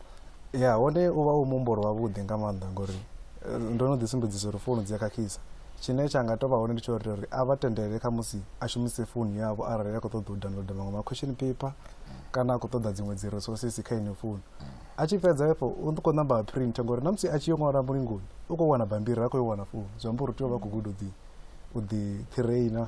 ya hone u vha u muhumbulo wavhuḓi nga maanḓa ngori eh, ndo no ḓi sumbedzisa uri founu dzi a khakhisa tshine tsha nga tovha hone ndi tsho uri a vha tendelele kha musi a shumise founu yavho arali a khou ṱoḓa u downloada maṅwe ma question paper kana a khou ṱoḓa dziṅwe dzi resources kha ine founu a tshi fhedza efho u khou namba a print ngori na musi a tshi yo ṅwala mulingoni u khou wana bambiri ha khou yo wana founu zwi amba uri u tea u vha khou guda u ḓi u ḓi trainer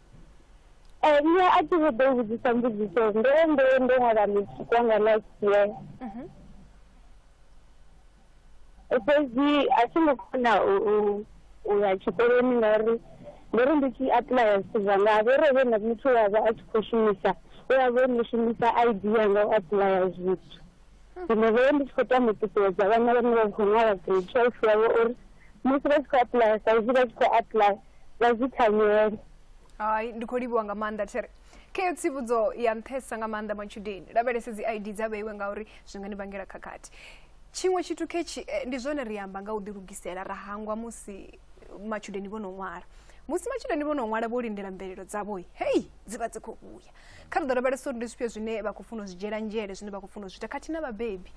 Eh, nṋe a thi vho ḓo u vhudzisa mbudziso ndo ndo ndo ṅwala music wanga last year Mhm. fhedzi a thi ngo kona u u- u ya tshikoloni ngauri ndo ri ndi tshi apuḽaya zwithu zwanga a vho ro vhe na muthu wavha a tshi khou shumisa we a vha o no shumisa id yanga u apuḽaya zwithu zwino vhee ndi tshi khou tama u ṱuṱuwedza vhana vhane vha khou ṅwala grade twelve yavho uri musi vha tshi khou aplaya sa izwi vha tshi khou aplaya vha zwi thanyele hai ndi khou livhiwa nga maanḓa there kheyo tsivhudzo ya nṱhesa nga maanḓa matshudeni lavhelese dzi id dza vheiwe ngauri zwi nga ni vhangela khakhathi tshiṅwe tshithu khetshi eh, ndi zwone ri amba nga u ḓilugisela ra hangwa musi matshudeni vho no ṅwala musi matshudeni vho no ṅwala vho lindela mvelelo dzavho hei dzi vha dzi khou vhuya kha ri ḓo lavhelesa uri ndi zwifhio zwine vha khou funa u zwi dzhiela nzhele zwine vha khou funa u zwi ita khathihi na vhabebi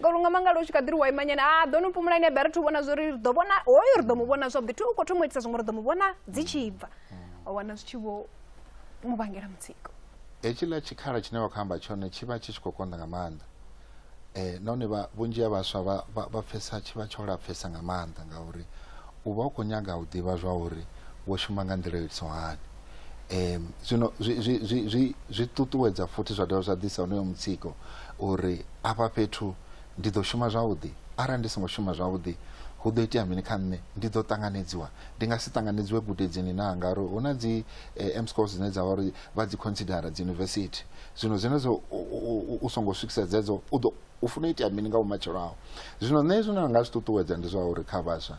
ngauri unga mangala u tshi kha ḓiri wa imanyana a ah, ḓo no pumulani ya bere thi u vhona zwo ri ri ḓo vhona hoyo ri ḓo mu vhona zwavhuḓi thi u khou thoma u itisa zwiṅwe ri ḓo mu vhona dzi tshi bva wa wana zwi tshi vho mu vhangela mutsiko hetshiḽa tshikhala tshine wa khou amba tshone tshi vha tshi tshi khou konḓa nga maanḓa um nahone vha vhunzhi ha vhaswa vha vha vha pfesa tshi vha tsho lapfesa nga maanḓa ngauri u vha u khou nyaga u ḓivha zwa uri wo shuma nga nḓila yo itisaho hani um zwino zwi zwi zwi zwi zwi ṱuṱuwedza futhi zwa dovha zwa ḓisa honoyo mutsiko uri afha fhethu ndi ḓo shuma zwavhuḓi arali ndi songo shuma zwavhuḓi hu ḓo itea mini kha nṋe ndi ḓo ṱanganedziwa ndi nga si ṱanganedziwe gudedzini na ngauri hu na dzi eh, mscos dzine dza vha uri vha dzi considera dzi university zwino zwenezwo u songo swikisa dzedzo u ḓo u funa u itea mini nga vhumatshelo aho zwino nṋe zwine nda nga zwi ṱuṱuwedza ndi zwa uri kha vhaswa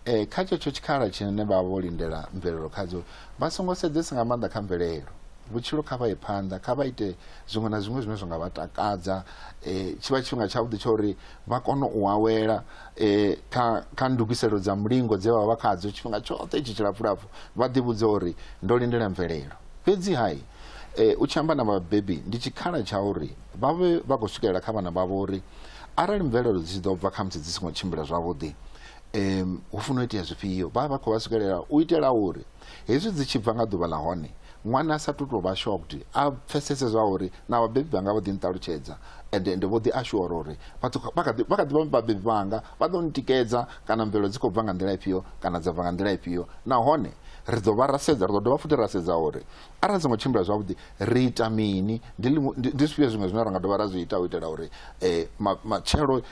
um kha tshetsho tshikhala tshine vha vha vho lindela mvelelo khadzo vha songo sedzesa nga maanḓa kha mvelelo vhutshilo kha vha ye phanḓa kha vha ite zwiṅwe na zwiṅwe zwine zwa nga vha takadza um tshi vha tshifhinga tshavhuḓi tsha uri vha kone u awela um kha ndugiselo dza mulingo dze vha vha khadzo tshifhinga tshoṱhe itshi tshilapfulapfu Vha ḓivhudza uri, Ndo lindela mvelelo. Fhedzi-ha, e, u tshi amba na vhabebi ndi tshikhala tsha uri vha vhe vha khou swikelela kha vhana vhavho uri arali mvelelo dzi tshi ḓo bva khamusi dzi songo tshimbila zwavhuḓi, um hu funa u itea zwifhio. Vha vha vha khou vha swikelela u itela uri hezwi dzi tshi bva nga ḓuvha ḽa hone ṅwana a sa tu tou vha shocked, a pfesese zwa uri na vhabebi vhanga vho ḓi nṱalutshedza ende ende vho ḓi ashura uri vha kha ḓi vha vhabebi vhanga vha ḓo ntikedza kana mvelo dzi khou bva nga nḓila ifhio kana dza bva nga nḓila ifhio nahone ri ḓo vha ra sedza ri ḓo dovha futhi ra sedza uri arali dzi ngo tshimbila zwavhuḓi ri ita mini ndi zwifhio zwiṅwe zwine ra nga dovha ra zwi ita u itela uri um matshelo um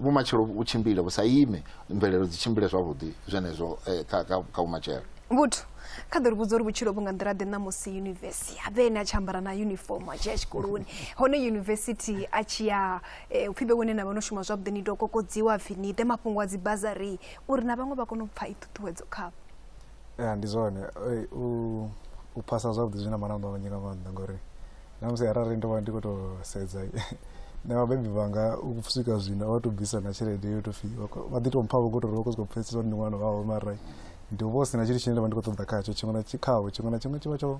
vhumatshelo vhu tshimbile vhu sa ime mvelelo dzi tshimbile zwavhuḓi zwenezwo um kha vhumatshelo vhuthu kha ḓo ri vhudza uri vhutshilo vhu nga nḓila ḓe ṋamusi yunivesi a vhe ene a tshi ambara na yunifomo a tshi ya tshikoloni hone yunivesithi a tshi ya Eh, u pfhi vhe wene na vha no shuma zwavhuḓi ni tou kokodziwa pfhi ni ite mafhungo a dzi bazari uri na vhaṅwe vha kone u pfha i ṱhuṱhuwedzo khavho ya ndi zwone eh, u phasa zwavhuḓi zwi na malamba manzhi nga maanḓa ngori na musi arali ndo vha ndi khou tou sedza na vhabebi vhanga u swika zwino vha tou bvisa na tshelede yo tou pfhi vha ḓi tou mpha vho khou tou vha khou sokou pfhesesa uri ndi ṅwana wavho mara ndi vho si na tshithu tshine nda vha ndi khou ṱoḓa khatsho tshiṅwe na khavho tshiṅwe na tshiṅwe tshi vha tsho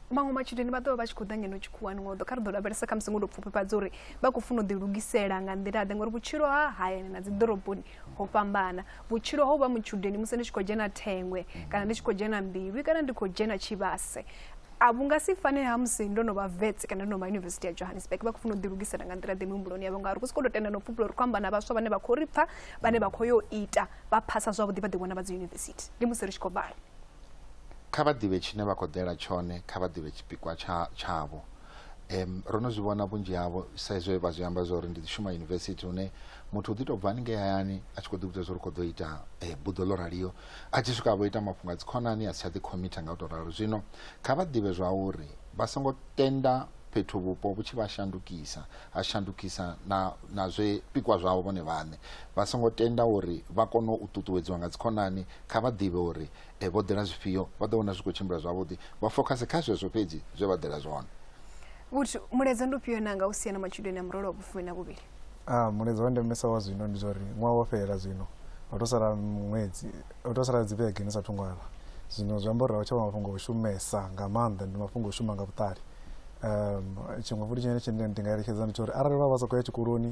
maṅwe matshudeni vha ḓovha vha tshi khou ḓa ngeno tshikhuwani ngo ḓo kha ri ḓo lavhelesa kha musi ngo to pfufhifhadza uri vha khou funa u ḓilugisela nga nḓila ḓe ngauri vhutshilo ha hayani na dzi ḓoroboni ho fhambana vhutshilo ho vha mutshudeni musi ndi tshi khou dzhena thengwe kana ndi tshi khou dzhena mbilwi kana ndi khou dzhena tshivhase a vhu nga si fane ha musi ndo no vha vets kana ndo no vha yunivesithi ya johannesburg vha khou funa u ḓilugisela nga nḓila ḓe mihumbuloni yavho ngauri ku si khou tou tenda no pfhupula uri khou amba na vhaswa vhane vha khou ri pfha vhane vha khou yo ita vha phasa zwavhuḓi vha ḓiwana vha dzi yunivesithi ndi musi ri tshi khou vhala kha vha ḓivhe tshine vha khou ḓela tshone kha vha ḓivhe tshipikwa tshavho um ro no zwi vhona vhunzhi havho sa izwo vha zwi amba zwa uri ndi ḓi shuma yunivesithi hune muthu u ḓi tou bva haningei hayani a tshi khou ḓi vhudza zwa uri khou ḓo ita eh, buḓo ḽo raliyo a tshi swika vho ita mafhungo a dzikhonani a si tsha ḓi khomitha nga u tou ralo zwino kha vha ḓivhe zwa uri vha songo tenda fhethu vhupo vhu tshi vha shandukisa ha shandukisa na na zwipikwa zwavho vhone vhaṋe vha songo tenda uri vha kone u ṱuṱuwedziwa nga dzikhonani Kha vha ḓivhe uri e, vho ḓela zwifhio, vha ḓo vhona zwi khou tshimbila zwavhuḓi, vha fokhase kha zwezwo fhedzi zwe vha ḓela zwone. Vhut, Mulaedza ndi ufhio na nga u sia na matshudeni a murole wa vhufumi na vhuvhili? A, Mulaedza wa ndemesa wa zwino ndi zwa uri ṅwaha wo fhela zwino, ho tou sala ṅwedzi, ho tou sala dzivhege ni sa athu ṅwala. Zwino zwi amba uri a hu tsha vha mafhungo a u shumesa nga maanḓa, ndi mafhungo a u shuma nga vhuṱali. Um, tshiṅwe futhi tshine ndi nga eletshedza ndi tsha uri arali vha vha sa khou ya tshikoloni,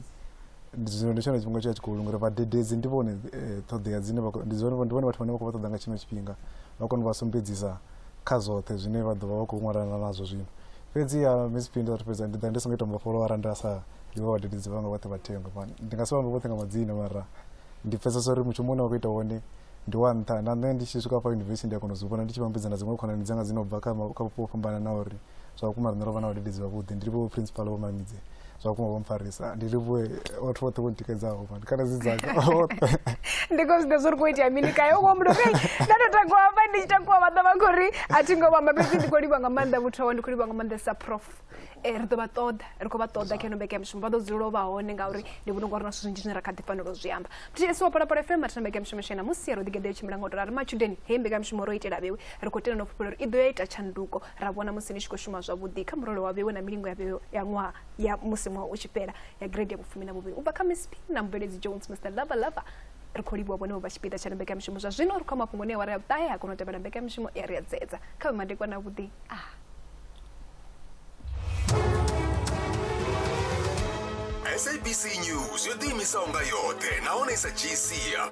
zwino ndi tshone tshifhinga tsha tshikolo ngori vhadededzi ndi vhone eh, ṱhoḓea dzine vha khou- ndi zwone ndi vhone vhathu vhane vha khou vha ṱoḓa nga tshino tshifhinga vha kone u vha sumbedzisa kha zwoṱhe zwine vha ḓo vha vha khou ṅwalana nazwo zwino fhedzi ya miss phinda vhathu fhedza ndi ḓa ndi songo ita mbofholo arali nda sa ḓivha vhadededzi vhanga vhoṱhe vha thengwe Man, ndi nga si vhambe vhoṱhe nga madzina mara ndi pfesesa uri mushumo une wa khou ita wone ndi wa nṱha na nṋe ndi tshi swika fha yunivesithi ndi a kona u zwi vhona ndi tshi vhambedza na dziṅwe khonani dzanga dzi no bva kha ma- kha vhupo ho fhambananaho uri zwa vhukuma riṋe ro vha na vhadededzi vhavhuḓi ndi livhuwe principal vho mamidze zwa vhukuma vho mpfarisa ndi livhuwe vhathu vhoṱhe vho ntikedzaho mani kana dzi dzaka vhoṱhe ndi khou zwiḓa zwo ri khou itea mini kae u khombulo kai nda tou takuwa hafha ndi tshi takuwa vha ḓa vha khou ri a thi ngo vhamba fhedzi ndi khou livha nga maanḓa muthu awa ndi khou livha nga maanḓa sa prof um ri ḓo vha ṱoḓa ri khou vha ṱoḓa kha ino mbeke ya mushumo vha ḓo dzulela u vha hone ngauri ndi vhona ungari na zwithu zwinzhi zwine ra kha ḓi fanela u zwi amba ths wa phalaphala fm athina mbeke ya mushumo shena musi ya ro ḓigeḓa yo tshimbila nga u tora ri matshudeni hei mbeke ya mushumo ro itela vhewe ri khou tenda no fhufhela uri i ḓo ya ita tshanduko ra vhona musi ni tshi khou shuma zwavhuḓi kha murole wa vhewe na milingo ya vhewe ya ṅwaha ya musi ṅwaha u tshi fhela ya grade ya vhufumi na vhuvhili u bva kha miss p na mubveledzi jones mr lava lava ri khou livhuwa vhone vho vha tshipiḓa tsha mbekamishumo zwa zwino ri khou mafhungo ne awara ya vhuṱahe ha kona u tevhela mbekamishumo ya ri ya dzedza kha vhe madekwa na vhuḓi a ah. sabc news yo ḓiimisaho nga yoṱhe nahone i sa dzhii sia